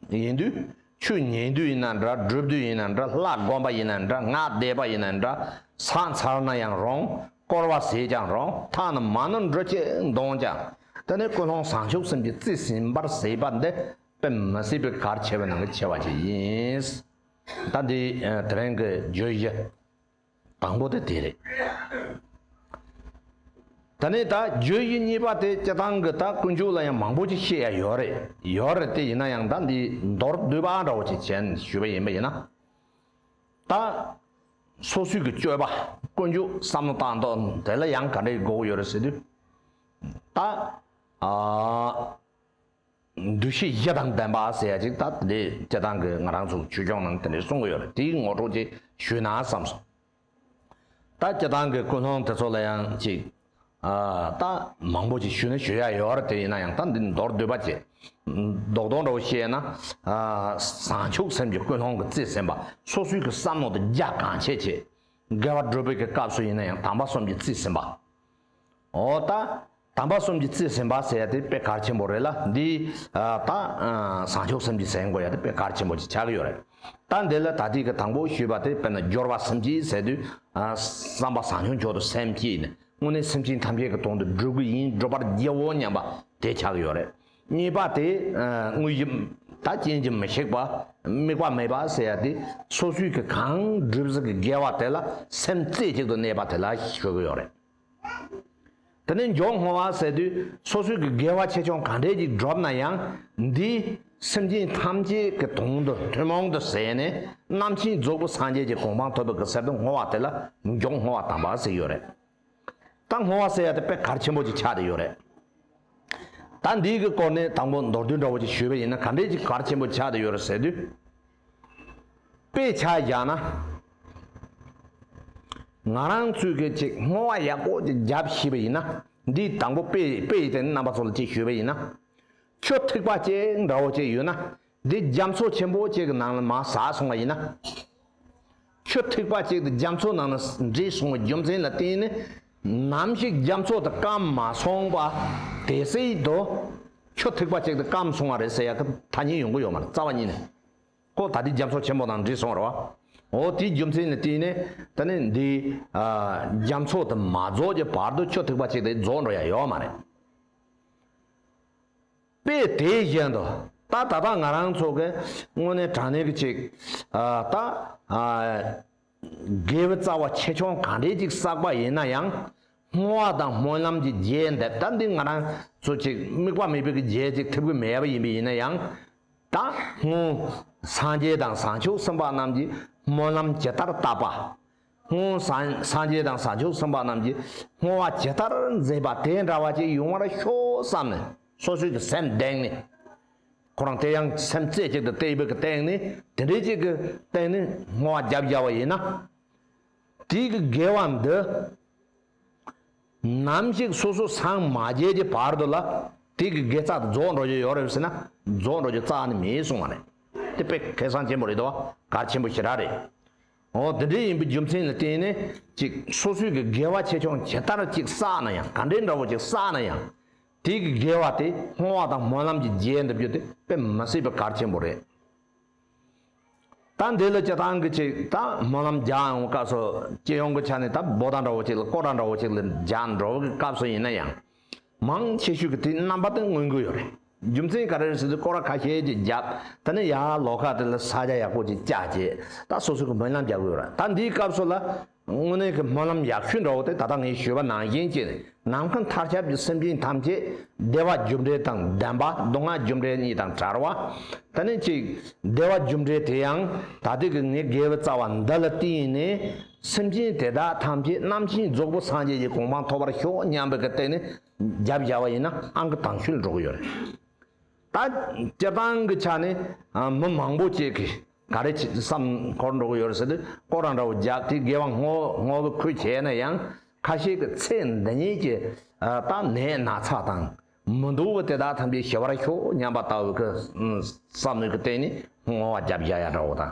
བ་ཡིན་དུས་ཆོས་ཉན་དུས་ཡིན་ན་འདྲ་སྒྲུབ་དུས་ཡིན་ན་འདྲ་ལྷ་བསྒོམ་པ་ཡིན་ན་འདྲ་སྔགས་བཟླས་པ་ཡིན་ན་འདྲ་ཟངས་ཚར་ན་ཡང་རུང་བསྐོར་བ་ཟས་ཀྱང་རུང་མཐའ་ན་མ་ནོར་འབྲུ་སྐྱེས་མདོངས་ཀྱང་དེ་ནི་ཀུན་སློང་བཟང་ཕྱོགས་གསུམ་གྱི་རྩིས་ཟིན་པར་ཟད་པ་འདི་དཔེ་མི་སྲིད་པའི་གར་ཆེ་བའི་ནང་གི་ཆེ་བ་ཞིག་ཡིན། ད་འདི་དེ་རིང་གི་བརྗོད་གཞི། དང་པོ་དེ་དེ་རེད། ད་ནི་ད་རྒྱུ་དབྱི་གཉིས་པ་དེ་སྤྱི་བཏང་གི་ད་ཀུན་སྤྱོད་ལ་ཡང་མང་པོ་ཅིག་བཤད་ཡ་ཡོད་རེད་ཡོད་རེད་དེ་ཡིན་ན་ཡང་ད་འདི་མདོར་བསྡུས་པ་འདྲ་བོ་ཅིག་བྱས་ནས་ཞུས་པ་ཡིན་པ་ཡིན་ན། ད་སོ་སོའི་གི་སྤྱོད་པ་ཀུན་སྤྱོད་བསམ་བློ་བཏང་དོན་དེ་ལ་ཡང་ག་འདྲའི་དགོས་མཁོ་ཡོད་རེད་ཟེར་དུས། ད་ཨ། འདུ་ཤེས་བཞི་དང་ལྡན་པ་ཟེར་ཡ་ཅིག་ད་དེ་འདྲའི་སྐད་གདངས་ཀྱི་ང་རང་ཚོ་ཆོས་སྐྱོང་ནང་དེ་འདྲའི་གསུང་གི་ཡོད་རེད་དེའི་ངོ་སྤྲོད་ཅིག་ཞུས་ན་བསམ་སོང། ད་སྐད་གདངས་ཀྱི་ཀུན་སློང་དེ་ཚོ་ལ་ཡང་ཅིག་ད་མང་པོ་ཅིག་ཞུས་ན་ཞུ་ཡ་ཡོད་རེད་དེ་ཡིན་ན་ཡང་ད་འདི་མདོར་བསྡུས་པ་ཅིག་རྡོག་རྡོག་འདྲ་བོ་བཤད་ན། བཟང་ཕྱུག་སེམས་ཀྱི་ཀུན་སློང་གི་རྩིས་ཟིན་པ་སོ་སོའི་བསམ་མནོ་དང་རྒྱ་གང་ཆེ་ཆེ། དགེ་བ་སྒྲུབ་པའི་སྐབས་སུ་ཡིན་ན་ཡང་དམ་པ་གསུམ་གྱི་རྩིས་ཟིན་པ། ཨོ་ད། དམ་པ་གསུམ་གྱི་རྩིས་ཟིན་པ་ཟེར་ཡ་དེ་དཔེ་གར་ཆེན་པོ་རེད་ལ་འདི། ད། བཟང་ཕྱོགས་གསུམ་གྱི་ཟེར་མགོ་ཡ་དེ་དཔེ་གར་ཆེན་པོ་ཞིག་ཆགས་ཀྱི་ཡོད་རེད། ད་འདི་ལ་ད་ཐིག་གི་དང་པོ་ཞུས་པ་དེ་དཔེར་ན་སྦྱོར་བ་གསུམ་གྱི་ཟེར་དུས། བསམ་པ་བཟང་ཕྱོགས་མཆོག་ཏུ་སེམས་བསྐྱེད་ནས་དངོས་གནས་སེམས་ཅན་ཐམས་ཅད་ཀྱི་དོན་དུ་སྒྲུབ་ཀྱི་ཡིན་སྒྲུབ་པར་བགྱིའོ་སྙམ་པ་དེ་ཆགས་ཀྱི་ཡོད་རེད། གཉིས་པ་དེ་དངོས་གཞི་དང་རྐྱེན་གྱིས་མི་ཤིགས་པ་དམིགས་པ་མེད་པ་ཟེར་ཡ་དེ་སོ་སོའི་གི་གང་སྒྲིབ་གཟུགས་ཀྱི་དགེ་བ་དེ་ལ་སེམས་རྩེ་གཅིག་ཏུ་གནས་པ་དེ་ལ་ཞུགས་ཀྱི་ཡོད་རེད། དེ་ནས་མགྱོགས་སྔོ་བ་ཟེར་དུས་སོ་སོའི་གི་དགེ་བ་ཆེ་ཆུང་གང་འདྲས་ཀྱིས་བསྒྲུབས་ན་ཡང་འདི་སེམས་ཅན་ཐམས་ཅད་གི་དོན་དུ་ཐུན་མོང་དུ་ཟད་ནས་རྣམ་མཁྱེན་རྫོགས་སྐུ་སངས་རྒྱས་ཀྱི་གོ་འཕང་ཐོབ་པའི་གི་གསེར་དུ་སྔོ་བ་དེ་ལ་མགྱོགས་སྔོ་བ་དམ་པ་ཟེར་ཡོད་རེད། ད་སྔོ་བ་ཟེར་ཡ་དེ་དཔེ་གར་ཆེན་པོ་ཅིག་ཆགས་བསྡད་ཡོད་རེད། ད་འདིའི་གི་སྐོར་ནས་དང་པོ་མདོར་བསྡུས་འདྲ་བོ་ཅིག་ཞུས་པ་ཡིན་ན་ག་འདྲའི་ཅིག་གར་ཆེན་པོ་ཆགས་བསྡད་ཡོད་རེད་ཟེར་དུས། དཔེ་ཆ་རྒྱག་ན། ང་རང་ཚོས་གི་ཅིག་སྔོ་བ་ཡག་པོ་ཅིག་རྒྱབ་ཤེས་པ་ཡིན་ན་འདིའི་དང་པོ་དཔེ་དཔེ་ཡི་སྟེང་ནས་རྣམ་པ་ཚོ་ལ་ཅིག་ཞུས་པ་ཡིན་ན། ཆུ་ཐིགས་པ་ཅིག་འདྲ་བོ་ཅིག་ཡོད་ན་འདི་རྒྱ་མཚོ་ཆེན་པོ་གཅིག་གི་ནང་ལ་མ་ཟགས་སོང་བ་ཡིན་ན། ཆུ་ཐིགས་པ་གཅིག་དེ་རྒྱ་མཚོ་ནང་ན་འདྲིས་སོང་བའི་རྒྱུ་མཚན་ལ་བརྟེན་ནས་ནམ་ཞིག་རྒྱ་མཚོ་དེ་སྐམ་མ་སོང་པ་དེ་སྲིད་དུ་ཆུ་ཐིགས་པ་གཅིག་དེ་སྐམ་སོང་བ་རེད་ཟེར་ཡག་གི་ཐ་སྙད་ཡོང་གི་ཡོད་མ་རེད་རྩ་བ་ཉིད་ནས་ཁོ་ད་དེ་རྒྱ་མཚོ་ཆེན་པོ་ནང་འདྲིས་སོང་རོའོ་དེའི་རྒྱུ་མཚན་ལ་བརྟེན་ནས་ད་ནི་འདི་རྒྱ་མཚོ་དེ་མ་རྫོགས་ཀྱི་བར་དུ་ཆུ་ཐིགས་པ་གཅིག་དེ་རྫོགས་འགྲོ་ཡག་ཡོད་མ་རེད། པས་དེའི་བཞིན་དུ། ད་ད་ལྟ་ང་རང་ཚོ་གི་དངོས་གནས་དྲང་གནས་ཀྱི་ཅིག། ད། དགེ་བའི་རྩ་བ་ཆེ་ཆུང་གང་འདྲའི་ཅིག་བསགས་པ་ཡིན་ན་ཡང། སྔོ་བ་དང་སྨོན་ལམ་གྱི་རྗེས་འདེབས་ད་འདི་ང་རང་ཚོ་ཅིག་དམིགས་པ་མེད་པའི་གི་རྗེས་ཅིག་ཐེབས་གི་མེད་པ་ཡིན་པས་ཡིན་ན་ཡང། ད་སྔོན། སངས་རྒྱས་དང་བཟང་ཕྱོགས་སེམས་དཔའ་རྣམས་ཀྱིས་སྨོན་ལམ་ཇི་ལྟར་བཏབ་པ། སྔོན་སངས་རྒྱས་དང་བྱང་ཆུབ་སེམས་དཔའ་རྣམས་ཀྱིས་བསྔོ་བ་ཇི་ལྟར་མཛད་པ་དེ་འདྲ་བ་ཅིག་ཡོང་བར་ཤོག་བསམ་ནས་སོ་སོའི་གི་སེམས་གདེངས་ནས། ཁོ་རང་དེ་ཡང་སེམས་རྩེ་གཅིག་ཏུ་དེའི་བུ་གི་སྟེང་ནས་དེ་འདྲའི་ཅིག་གི་སྟེང་ནས་བསྔོ་བ་རྒྱབ་བརྒྱབ་བ་ཡིན་ན། དེའི་གི་དགེ་བ་འདི། ནམ་ཞིག་སོ་སོ་སངས་མ་རྒྱས་ཀྱི་བར་དུ་ལ་དེའི་གི་དགེ་རྩ་དེ་རྫོགས་འགྲོ་རྒྱུ་ཡོད་རེད་ཟེར་ན་རྫོགས་འགྲོ་རྒྱུ་རྩ་ནི་མེད་གསུང་བ་རེད། དེ་དཔེ་ཁེ་བཟང་ཆེན་པོ་རེད་དོ་གར་ཆེན་པོ་ཞེ་དྲག་རེད། འོ་དེ་འདྲའི་ཡིན་པའི་རྒྱུ་མཚན་ལ་བརྟེན་ནས་ཅིག་སོ་སོའི་གི་དགེ་བ་ཆེ་ཆུང་ཇི་ལྟར་ཅིག་བསགས་ན་ཡང་ག་འདྲའི་འདྲ་བོ་ཅིག་བསགས་ན་ཡང། དེའི་གི་དགེ་བ་དེ་སྔོ་བ་དང་སྨོན་ལམ་གྱི་རྗེས་འདེབས་རྒྱུ་དེ་དཔེ་མི་སྲིད་པའི་གར་ཆེན་པོ་རེད། ད་འདི་ལ་སྤྱི་བཏང་གི་ཅིག་ད་སྨོན་ལམ་རྒྱག་ཡོང་བའི་སྐབས་སུ་སྤྱི་ཡོངས་ཀྱི་ཆ་ནས་ད་བོ་ད་འདྲ་བོ་ཅིག་ལ་ཀོ་ད་འདྲ་བོ་ཅིག་ལ་རྒྱག་འགྲོ་བའི་སྐབས་སུ་ཡིན་ན་ཡང། མང་ཆེ་ཤོས་ཀྱི་དེའི་རྣམ་པ་དེ་མངོན་གྱི་ཡོད་རེད། རྒྱུ་མཚན་ག་རེ་རེད་ཟེར་དུས་སྐོར་བ་ཁ་ཤས་ཀྱིས་བརྒྱབ། ད་ནི་ཡ་ལོ་ཁ་དེ་ལ་ས་རྒྱ་ཡག་པོ་ཅིག་བཅག་རྗེས་ད་སོ་སོས་ཀྱི་སྨོན་ལམ་རྒྱག་གི་ཡོད་རེད། ད་འདིའི་སྐབས་སུ་ལ་དངོས་གནས་ཀྱི་སྨོན་ལམ་ཡག་ཤོས་འདྲ་བོ་དེ་ད་ལྟ་ངས་ཞུས་པ་ནང་བཞིན་གྱི་ནམ་མཁའི་མཐར་ཁྱབ་ཀྱི་སེམས་ཅན་ཐམས་ཅད་བདེ་བ་རྒྱུ་འབྲས་དང་ལྡན་པ་སྡུག་བསྔལ་རྒྱུ་འབྲས་གཉིས་དང་བྲལ་བ་དེ་ནི་གཅིག་བདེ་བ་རྒྱུ་འབྲས་དེ་ཡང་ད་ལྟའི་ཀྱི་ངའི་དགེ་བའི་རྩ་བ་འདི་ལ་བརྟེན་ནས་སེམས་ཅན་དེ་དག་ཐམས་ཅད་རྣམ་མཁྱེན་རྫོགས་སྐུ་སངས་རྒྱས་ཀྱི་གོ་འཕང་ཐོབ་པར་ཤོག་སྙམ་པའི་སྟེང་ནས་རྒྱབ་བཞག་པ་ཡིན་ན་ཨང་ཀི་དང་ཤུལ་འགྲོ་གི་ཡོད་རེད། ད་སྤྱིར་བཏང་གི་ཆ་ནས་མི་མང་པོ་བཅས་ཀྱིས་ག་རེ་བསམ་འཁོར་འགྲོ་གི་ཡོད་རེད་ཟེར་ཏེ་སྐོར་ར་འདྲ་བོ་རྒྱག་དེ་དགེ་བ་སྔོ་སྔོ་གི་ཁུལ་བྱས་ན་ཡང་ཁ་ཤས་ཀྱི་ཚེ་འདི་ཉིད་ཀྱི་ལྟ་ནད་ན་ཚ་དང་མི་འདུག་པ་དེ་དག་ཐམས་ཅད་ཞི་བར་ཤོག་སྙམ་པ་ལྟ་བུའི་བསམ་མོད་ཀྱི་སྟེང་ནས་སྔོ་བ་རྒྱབ་བཞག་ཡ་འདྲ་བོ་དང།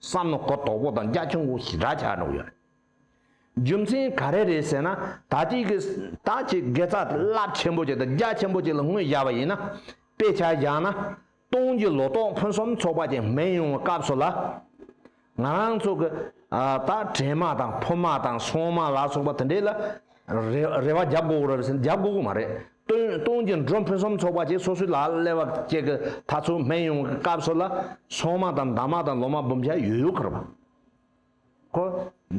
བསམ་ན་གོ་དོག་པོ་དང་རྒྱ་ཆུང་པོ་ཞིག་འདྲ་ཆགས་འགྲོ་གི་རེད། རྒྱུ་མཚན་ག་རེ་རེད་ཟེར་ན་ད་ཅིག་གི་ད་ཅིག་དགེ་རྩ་རླབས་ཆེན་པོ་ཅིག་དང་རྒྱ་ཆེན་པོ་ཅིག་ལ་ངོས་བཞག་པ་ཡིན་ན། དཔེ་ཆ་བཞག་ན། སྟོང་གི་ལོ་ཏོག་ཕུན་སུམ་ཚོགས་པ་ཅིག་སྨིན་ཡོང་བའི་སྐབས་སུ་ལ། ང་རང་ཚོ་གི། ད་བྲན་མ་དང་ཕུབ་མ་དང་སོང་མ་ལ་སོགས་པ་དེ་འདྲས་ལ། རེ་བ་རྒྱབ་འགོག་རེད་ཟེར་རྒྱབ་འགོག་གི་མ་རེད། སྟོན་གྱི་འགྲོ་ཕུན་སུམ་ཚོགས་པ་བཅས་སོ་སོའི་ལག་ལས་བ་སྐྱེ་གི་ཐ་ཚུགས་སྨན་ཡོང་གི་སྐབས་སོགས་ལ་སོང་མ་དང་འདང་མ་དང་ལོ་མ་འབུམ་བརྒྱ་ཡོད་ཡོད་ཁར་བ། ཁོ།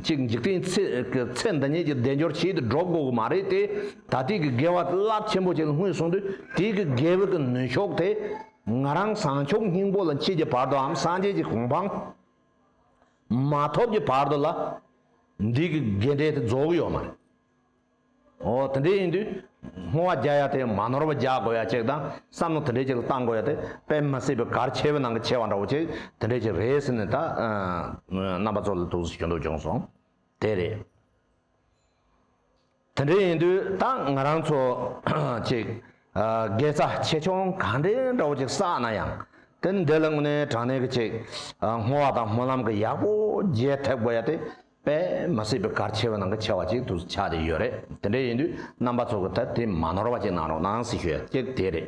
གཅིག་འཇིག་རྟེན་ཚེ་འདི་ཉིད་ཀྱི་བདེ་འབྱོར་ཆེད་དུ་འགྲོ་དགོས་གི་མ་རེད་དེ། ད་ལྟའི་གི་དགེ་བ་རླབས་ཆེན་པོ་བྱས་ལ་སྔུན་སོང་དུས་དེའི་གི་དགེ་བའི་གི་ནུས་ཤོག་དེ། ང་རང་བཟང་ཕྱོགས་སྙིང་པོ་ལ་མཆིས་ཀྱི་བར་དུའམ་སངས་རྒྱས་ཀྱི་གོང་འཕང། མ་ཐོབ་ཀྱི་བར་དུ་ལ། འདི་གི་དགེ་འབྲས་དེ་རྫོགས་ཀྱི་ཡོད་མ་རེད། འོ་དེ་འདྲས་ཡིན་དུས་སྔོ་བ་རྒྱག་ཡ་དེ་མ་ནོར་བ་རྒྱག་དགོས་ཡ་ཅིག་དང་བསམ་བློ་དེ་འདྲས་ཅིག་ལ་བཏང་དགོས་ཡ་དེ་དཔེ་མི་སྲིད་པའི་གར་ཆེ་བའི་ནང་གི་ཆེ་བ་འདྲ་བོ་ཅིག་དེ་འདྲས་ཅིག་རེད་ཟེར་ནས་ད་རྣམ་པ་ཚོ་ལ་ཐུགས་གཟི་ཞུ་འདོད་བྱུང་སོང་དེ་རེད། དེ་འདྲ་ཡིན་དུས་ད་ང་རང་ཚོ་ཅིག་དགེ་རྩ་ཆེ་ཆུང་གང་འདྲའི་འདྲ་བོ་ཅིག་བསགས་ན་ཡང་དེ་འདི་ལ་དངོས་གནས་དྲང་གནས་ཀྱི་ཅིག་བསྔོ་བ་དང་སྨོན་ལམ་གྱི་ཡག་པོ་རྒྱས་ཐེབས་དགོས་ཡ་དེ་དཔེ་མི་སྲིད་པའི་གར་ཆེ་བའི་ནང་གི་ཆེ་བ་ཅིག་ཏུ་ཆགས་ཏེ་ཡོད་རེད་དེ་འདྲ་ཡིན་དུས་རྣམ་པ་ཚོ་གི་ཐད་དེ་མ་ནོར་བ་ཅིག་གནང་རོགས་གནང་ཞེས་ཞུ་ཡ་ཅིག་དེ་རེད།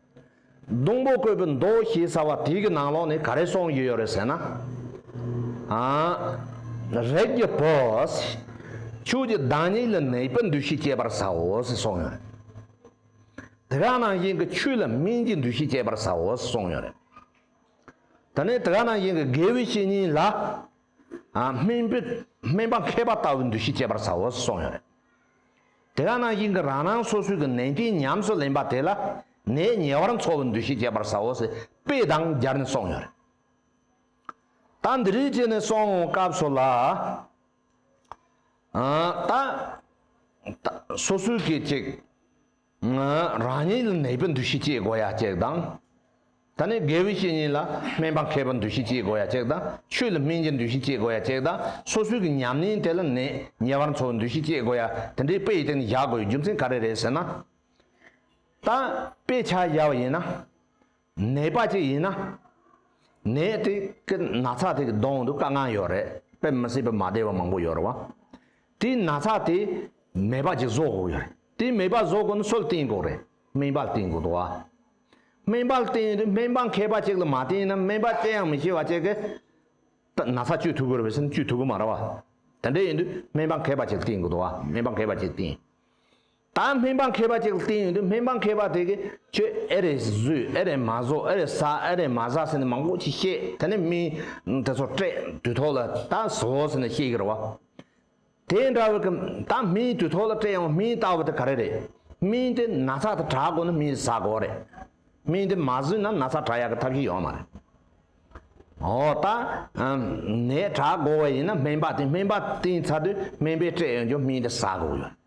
སྡོང་པོ་བརྐོས་པའི་མདོ་ཞེས་བྱ་བ་དེའི་གི་ནང་ལོགས་ནས་ག་རེ་སོང་ཡོད་ཡོད་རེད་ཟེར་ན། རེག་གི་བུས། ཁྱོད་ཀྱི་བདག་ཉིད་ལ་ནད་པའི་འདུ་ཤེས་སྐྱེད་པར་བྱའོ་ཞེས་གསུངས་ཡོད་རེད། དེ་ག་ནང་བཞིན་གྱི་ཁྱོད་ལ་སྨན་གྱི་འདུ་ཤེས་སྐྱེད་པར་བྱའོ་ཞེས་གསུངས་ཡོད་རེད། དེ་ནས་དེ་ག་ནང་བཞིན་གྱི་དགེ་བའི་བཤེས་གཉེན་ལ། སྨན་པའི་སྨན་པ་མཁས་པ་ལྟ་བུའི་འདུ་ཤེས་སྐྱེད་པར་བྱའོ་ཞེས་གསུངས་ཡོད་རེད། དེ་ག་ནང་བཞིན་གྱི་རང་རང་སོ་སོའི་གྱི་ནན་ཏན་ཉམས་སུ་ལེན་པ་དེ་ལ་ནས་ཉེ་བར་འཚོ་བའི་འདུ་ཤེས་བསྐྱེད་པར་ཟའོ་ཞེས་དཔེ་དང་སྦྱར་ནས་གསུངས་ཡོད། ད་འདི་རིགས་བྱས་ནས་སོང་ངོ་སྐབས་སུ་ལ། ད། སོ་སོའི་གྱི་ཅིག། རང་ཉིད་ལ་ནད་པའི་འདུ་ཤེས་སྐྱེས་དགོས་ཡ་གཅེག་དང། ད་ནི་དགེ་བའི་བཤེས་གཉེན་ལ་སྨན་པ་མཁས་པའི་འདུ་ཤེས་སྐྱེས་དགོས་ཡ་གཅེག་དང་ཆོས་ལ་སྨིན་རྒྱའི་འདུ་ཤེས་སྐྱེས་དགོས་ཡ་གཅེག་དང་སོ་སོའི་གི་ཉམས་ལེན་དེ་ལ་ནད་ཉེ་བར་འཚོ་བའི་འདུ་ཤེས་སྐྱེས་དགོས་ཡ་དེ་འདྲའི་དཔེ་ཡི་སྟེང་ནས་བཞག་དགོས་ཡའི་རྒྱུ་མཚན་ག་རེ་རེད་ཟེར་ན། ད་དཔེ་ཆ་བཞག་པ་ཡིན་ན། ནད་པ་ཅིག་ཡིན་ན། ནད་དེ་གི་ན་ཚ་དེ་གི་གདོང་དུ་དཀར་ངང་ཡོད་རེད་དཔེ་མི་སྲིད་པའི་མ་བདེ་བ་མང་པོ་ཡོད་རེད་བ། དེའི་ན་ཚ་དེ་མེད་པ་ཅིག་བཟོ་དགོས་ཡོད་རེད་དེ་མེད་པ་བཟོ་དགོས་ན་སུལ་བསྟེན་དགོས་རེད་སྨན་པ་བསྟེན་དགོས་འདུག་བ། སྨན་པ་བསྟེན་དུས་སྨན་པ་མཁས་པ་ཅིག་ལ་མ་བསྟེན་ན་སྨན་པ་དཔྱད་ཡང་མི་ཤེས་བ་ཅིག་གི་ན་ཚ་བཅོས་ཐུབ་དགོས་རེད་བས་སེམས་བཅོས་ཐུབ་དགོས་མ་རེད་བ། དེ་འདྲ་ཡིན་དུས་སྨན་པ་མཁས་པ་ཅིག་བསྟེན་དགོས་འདུག་བ་སྨན་པ་མཁས་པ་ཅིག་བསྟེན། ད་སྨན་པ་མཁས་པ་ཅིག་ལ་བསྟན་ཡོད་འདུག་སྨན་པ་མཁས་པ་དེ་གས་ཁྱོད་ཨེ་རེད་བཟོས་ཨེ་རེད་མ་བཟོས་ཨེ་རེད་ཟ་ཨེ་རེད་མ་ཟ་ཟེར་ནས་མང་པོ་ཞིག་བཤད་དེ་ནས་མི་དེ་ཚོ་སྤྲད་དུས་ཐོག་ལ་ད་བཟོ་ཟེར་ནས་བཤད་ཀྱི་རེད་བ། དེ་འདྲ་བའི་གི་ད་མི་དུས་ཐོག་ལ་སྤྲད་ཡང་མི་ལྟ་བ་དེ་ག་རེ་རེད། མི་དེ་ན་ཚ་དེ་དྲག་དགོས་ན་མི་ཟ་དགོས་རེད། མི་དེ་མ་བཟོས་ན་ན་ཚ་དྲག་ཡག་གི་ཐབས་ཤིག་ཡོད་མ་རེད། འོ་ད་ནད་དྲག་དགོས་བ་ཡིན་ན་སྨན་པ་དེ་སྨན་པ་བསྟེན་ཚར་དུས་སྨན་པས་སྤྲད་ཡོང་རྒྱུ་མི་དེ་ཟ་དགོས་ཡོད།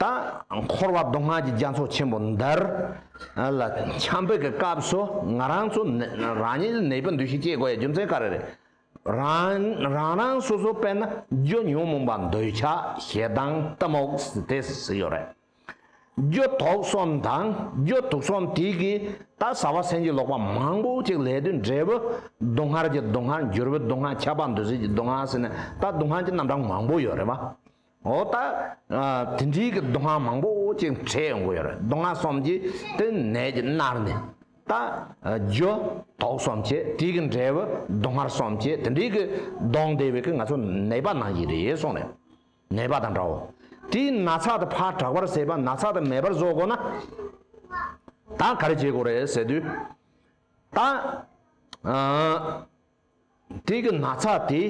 དང། འཁོར་བ་མདོ་སྔགས་ཀྱི་རྒྱ་མཚོ་ཆེན་པོ་འདིར། ལ། འཆམ་འཕེལ་གྱི་སྐབས་སུ་ང་རང་ཚོ། རང་ཉིད་ལ་ནད་པའི་འདུ་ཤེས་སྐྱེས་དགོས་ཡ་རྒྱུ་མཚན་ག་རེ་རེད། རང། རང་རང་སོ་སོ་དཔེར་ན་རྒྱུ་ཉོན་མོངས་པ་འདོད་ཆགས་ཞེ་སྡང་གཏི་མུག་དེ་ཟིག་ཡོད་རེད། རྒྱུ་དོག་གསུམ་དང་རྒྱུ་དུག་གསུམ་དེ་གིས་ད་ཟ་བ་སེམས་ཀྱི་ལོག་པ་མང་པོ་ཅིག་ལས་དུས་འབྲས་བུ་སྡུག་བསྔལ་གྱི་སྡུག་བསྔལ་འགྱུར་བའི་སྡུག་བསྔལ་ཁྱད་པར་འདུ་བྱེད་ཀྱི་སྡུག་བསྔལ་ཟེར་ནས་ད་སྡུག་བསྔལ་གྱི་རྣམ་གྲངས་མང་པོ་ཡོད་རེད་བ། འོ་ད། དེ་འདྲིའི་གི་མདོ་སྔགས་མང་པོ་ཅིག་འཕྲད་ཡོང་གི་ཡོད་རེད་མདོ་སྔགས་གསུམ་གྱི་དེ་ནས་ཀྱི་མནར་ནས། ད། རྒྱུ། དོག་གསུམ་གྱི་དེའི་གི་འབྲས་བུ་མདོ་སྔགས་གསུམ་གྱི་དེ་འདྲིའི་གི་གདོང་བདེ་བའི་གི་ང་ཚོ་ནད་པ་ནང་གི་རེད་གསུངས་རེད། ནད་པ་དང་འདྲ་བོ། དེའི་ན་ཚ་དེ་ཕར་དྲག་པར་ཟད་པ་ན་ཚ་དེ་མེད་པར་བཟོ་དགོས་ན། ད་ག་རེ་བྱེད་དགོས་རེད་ཟེར་དུས། ད། དེ་གི་ན་ཚ་དེ་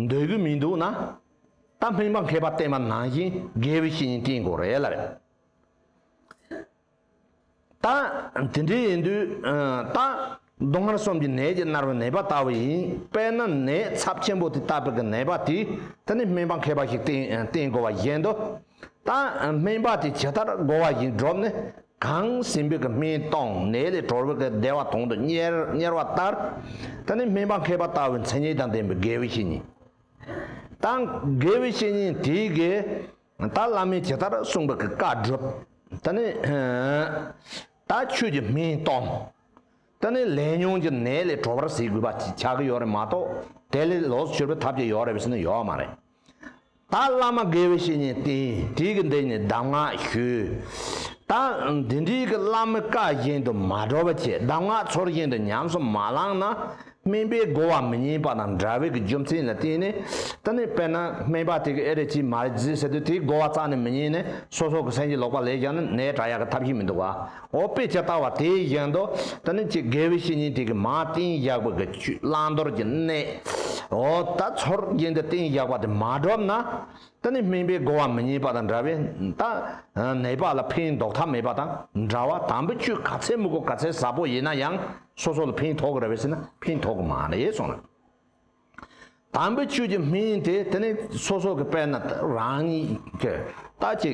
འདོད་གི་མི་འདུག་ན། ད་སྨན་པ་མཁས་པ་བསྟན་པ་ནང་བཞིན་དགེ་བའི་བཤེས་གཉེན་བསྟེན་དགོས་རེད་ལ། ད་དེ་འདྲས་ཡིན་དུས་ད་སྡུག་བསྔལ་གསུམ་གྱི་ནད་ཀྱིས་མནར་བའི་ནད་པ་ལྟ་བུ་ཡིན་དཔེ་ན་ནད་ཚབས་ཆེན་པོ་དེ་ལྟ་བུ་གི་ནད་པ་དེ་ད་ནི་སྨན་པ་མཁས་པ་ཞིག་བསྟེན་དགོས་པ་བཞིན་དུ། དང། སྨན་པ་དེ་ཇི་ལྟར་བསྒོ་བ་བཞིན་སྒྲུབ་ནས་གང་སྲིན་བུ་གི་སྨན་བཏང་ནད་ལས་གྲོལ་བུ་གི་བདེ་བ་དང་དུ་གཉེར་བ་ལྟར། ད་ནི་སྨན་པ་མཁས་པ་ལྟ་བུའི་མཚན་ཉིད་དང་ལྡན་པའི་དགེ་བའི་བཤེས་གཉེན་དང། དགེ་བའི་བཤེས་གཉེན་དེས་དགེ། ད་བླ་མས་ཇི་ལྟར་གསུངས་པའི་བཀའ་བསྒྲུབ། ད་ནི། ད་ཁྱོད་ཀྱི་སྨན་བཏང། ད་ནི་ལས་ཉོན་གྱི་ནད་ལས་གྲོལ་བར་གཟིགས་དགོས་པ་ཅིག་ཆགས་ཀྱི་ཡོད་རེད་མ་གཏོགས་དེ་ལས་ལོགས་སུ་གྱུར་པའི་ཐབས་ཅིག་ཡོད་རེད་བསམ་ན་ཡོད་མ་རེད། ད་བླ་མ་དགེ་བའི་བཤེས་གཉེན་བསྟེན། དེའི་གི་འདི་ནི་གདམས་ངག་ཞུས། ད་འདི་འདྲིའི་གི་བླ་མའི་བཀའ་བཞིན་དུ་མ་བགྲོ་བ་ཆེ་གདམས་ངག་ཚོར་བཞིན་དུ་ཉམས་སུ་མ་བླངས་ན། སྨན་པའི་བསྒོ་བ་མི་ཉན་པ་དང་འདྲ་བའི་གི་རྒྱུ་མཚན་ལ་བརྟེན་ནས། ད་ནི་དཔེར་ན་སྨན་པ་དེ་གི་ཨེ་རེད་ཅིས་མ་རེད་ཟེར་དུས་དེའི་བསྒོ་བ་རྩ་ནས་མི་ཉན་ནས་སོ་སོ་གི་སེམས་ཀྱི་ལོག་པ་ལས་ཀྱང་ནི་ནད་དྲག་ཡག་གི་ཐབས་ཤེས་མི་འདུག་ག། འོ་དཔེ་ཇི་ལྟ་བ་དེ་བཞིན་དུ་དེ་ནི་ཀྱེ་དགེ་བའི་བཤེས་གཉེན་དེ་གའི་མ་སྟན་བཞག་པའི་གི་ཆུས་བླང་དོར་གྱི་གནས། འོ་ད་ཚོར་རྒྱན་དེ་སྟན་བཞག་པ་དེ་མ་གྲུབ་ན། དེ་ནི་སྨིན་པའི་སྒོ་བ་མི་རྙེད་པ་དང་འདྲ་བས་ད་ནད་པ་ལ་ཕན་འདོགས་ཐབས་མེད་པ་དང་འདྲ་བ་དམ་པའི་ཆོས་ག་ཚད་མུ་གུ་ག་ཚད་ཟབ་པོ་ཡིན་ན་ཡང་སོ་སོ་ལ་ཕན་ཐོགས་རེ་བས་ཟིན་ན་ཕན་ཐོགས་མ་རེད་གསུངས་ལ། དམ་པའི་ཆོས་ཀྱི་སྨིན་དེ་དེ་ནི་སོ་སོ་གི་དཔལ་ན་རང་ཉིད་ཀྱི་ལྟ་ཅི།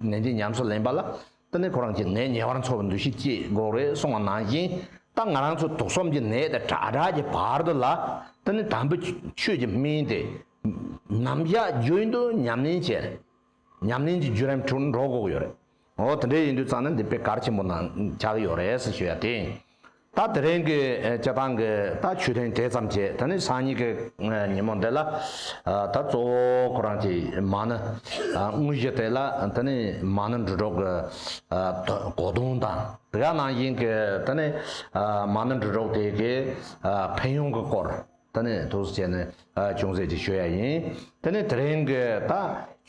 ནད་འདི་ཉམས་སུ་ལེན་པ་ལ་ཏི་ནི་ཁོ་རང་གི་ནད་ཉེ་བར་འཚོ་བར་འདུ་ཤེས་སྐྱེས་དགོས་རེད་གསུངས་བ་ནང་བཞིན་ད་ང་རང་ཚོ་དུག་གསུམ་གྱི་ནད་དེ་དྲག་དྲག་གི་བར་དུ་ལ་ཏི་ནི་དམ་བུ་ཆོས་ཀྱི་སྨན་དེ་ནམ་བཞག་རྒྱུན་དུ་ཉམས་ལེན་བྱས་རེད་ཉམས་ལེན་གྱི་བརྒྱུད་རིམ་དྲུག་འགྲོ་དགོས་ཀྱི་ཡོད་རེད་འོ་དེ་འདྲའི་ཡིན་དུས་ཙང་ནི་འདི་དཔེ་གར་ཆེན་པོ་ནང་བཞག་ཡོད་རེད་ཟེར་ཞུ་ཡ་དེ། ད་དེ་རིང་གི་སྤྱི་ཐང་གི་ད་ཆོས་ཐེངས་དེ་ཙམ་བྱས་ད་ནི་སང་ཉིན་གི་ཉིན་མོ་འདི་ལ་ད་གཙོ་བོ་ཁོ་རང་གི་མ་ནི་དངོས་གཞི་དེ་ལ་ད་ནི་མ་ནི་འབྲུ་གྲོག་གི་གོ་དོང་དང་དེ་ག་ནང་བཞིན་གི་ད་ནི་མ་ནི་འབྲུ་གྲོག་དེ་གི་ཕན་ཡོང་གི་སྐོར། དེ་ནས་དུར་སྲི་བྱས་ནས་ཅུང་ཟད་ཅིག་བཞུ་ཡ་ཡིན། དེ་ནས་དེ་རིང་གི་ད་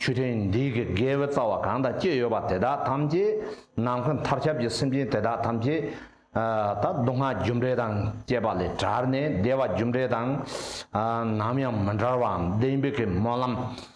ཆུ་ཕྲན་འདི་གི་དགེ་བའི་རྩ་བ་གང་དག་སྐྱེས་ཡོད་པ་དེ་དག་ཐམས་ཅད་ནམ་མཁའི་མཐར་ཁྱབ་ཀྱི་སེམས་ཅན་དེ་དག་ཐམས་ཅད་ད་སྡུག་བསྔལ་རྒྱུ་འབྲས་དང་བཅས་པ་ལས་བྲལ་ནས་བདེ་བ་རྒྱུ་འབྲས་དང་ནམ་ཡང་མི་འབྲལ་བ་འམ་བདེན་པའི་མོ་ལམ་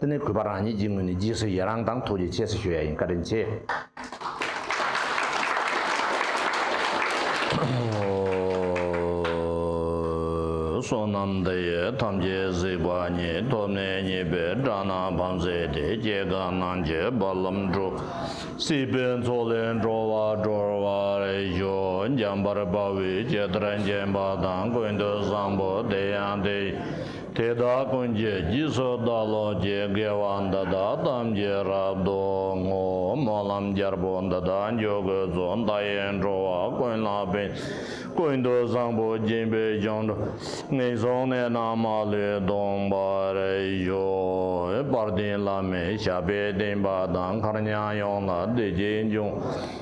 དེ་ནི་གུས་པ་རང་ཉིད་ཀྱི་ངོས་ནས་རྗེས་སུ་ཡི་རང་དང་ཐུགས་རྗེ་ཆེ་ཞེས་ཞུ་ཡ་ཡིན་བཀའ་དྲིན་ཆེསོ་ནམ་འདི་ཡི་ཐམས་ཅད་གཟིགས་པ་ཉིད་ཐོབ་ནས་གཉིས་པའི་སྦྲ་ནག་བམ་བཟས་ཏེ་སྐྱེ་རྒ་ན་འཆི་བར་ལམ་འགྲོ། སྲིད་པའི་མཚོ་ལས་འགྲོ་བ་སྒྲོལ་བ་རེ་ཞོག་འཇམ་པར་དཔའ་བོའི་སྐྱེ་ལྟར་འཇེམ་པ་དང་ཀུན་ཏུ་བཟང་པོ་དེ་ཡང་དེ་ཡིན། དེ་དག་ཀུན་གྱི་རྒྱུད་སོགས་བདག་ལོ་བརྒྱའི་དགེ་བ་འདི་དག་ཐམས་ཅད་རབ་ཏུ་བསྔོ། སྨོན་ལམ་རྒྱལ་པོ་འདི་དག་འཇོག་དགོས་གཙོ་མདའ་ཡས་འགྲོ་བ་ཀུན་ལ་ཕན། ཀུན་ཏུ་བཟང་པོ་སྦྱིན་པའི་སྦྱོང་འགྲོ་ངན་སོང་གནས་རྣམས་མ་ལུས་སྟོངས་པར་ཤོག། དཔལ་ལྡན་བླ་མའི་ཞབས་པད་བརྟན་པ་དང་མཁར་ཉམས་ཡོངས་ལ་བདེ་སྐྱིད་འབྱུང།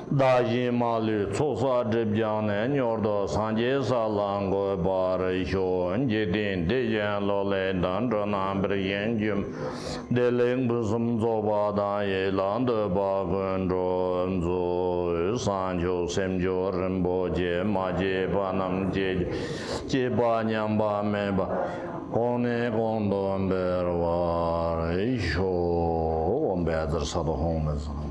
བདག་གཞན་མ་ལུས་ཚོགས་བསགས་སྒྲིབ་སྦྱངས་ནས་མྱུར་དུ་སངས་རྒྱས་ས་ལ་འགོད་པར་ཤོག་འཇིག་རྟེན་བདེ་གཞན་ལོག་ལས་དང་འགྲོ་རྣམས་བིར་གཞན་རྒྱུད་བདེ་ལེགས་ཕུན་སུམ་རྫོགས་པ་དང་ཡིད་ལ་འདོད་པ་ཀུན་འགྲོ་མཛོད་བསང་མཆོད་སེམས་མཆོད་རིན་པོ་ཆེ་མ་སྐྱེས་པ་རྣམས་སྐྱེ་རྒྱུ་སྐྱེས་པ་ཉམས་པ་མེད་པ་གོང་ནས་གོང་དུ་འཕེལ་བར་ཤོག་འོ་འབད་རྩར་ས་རྡོ་ཧོང་མི་བཟང།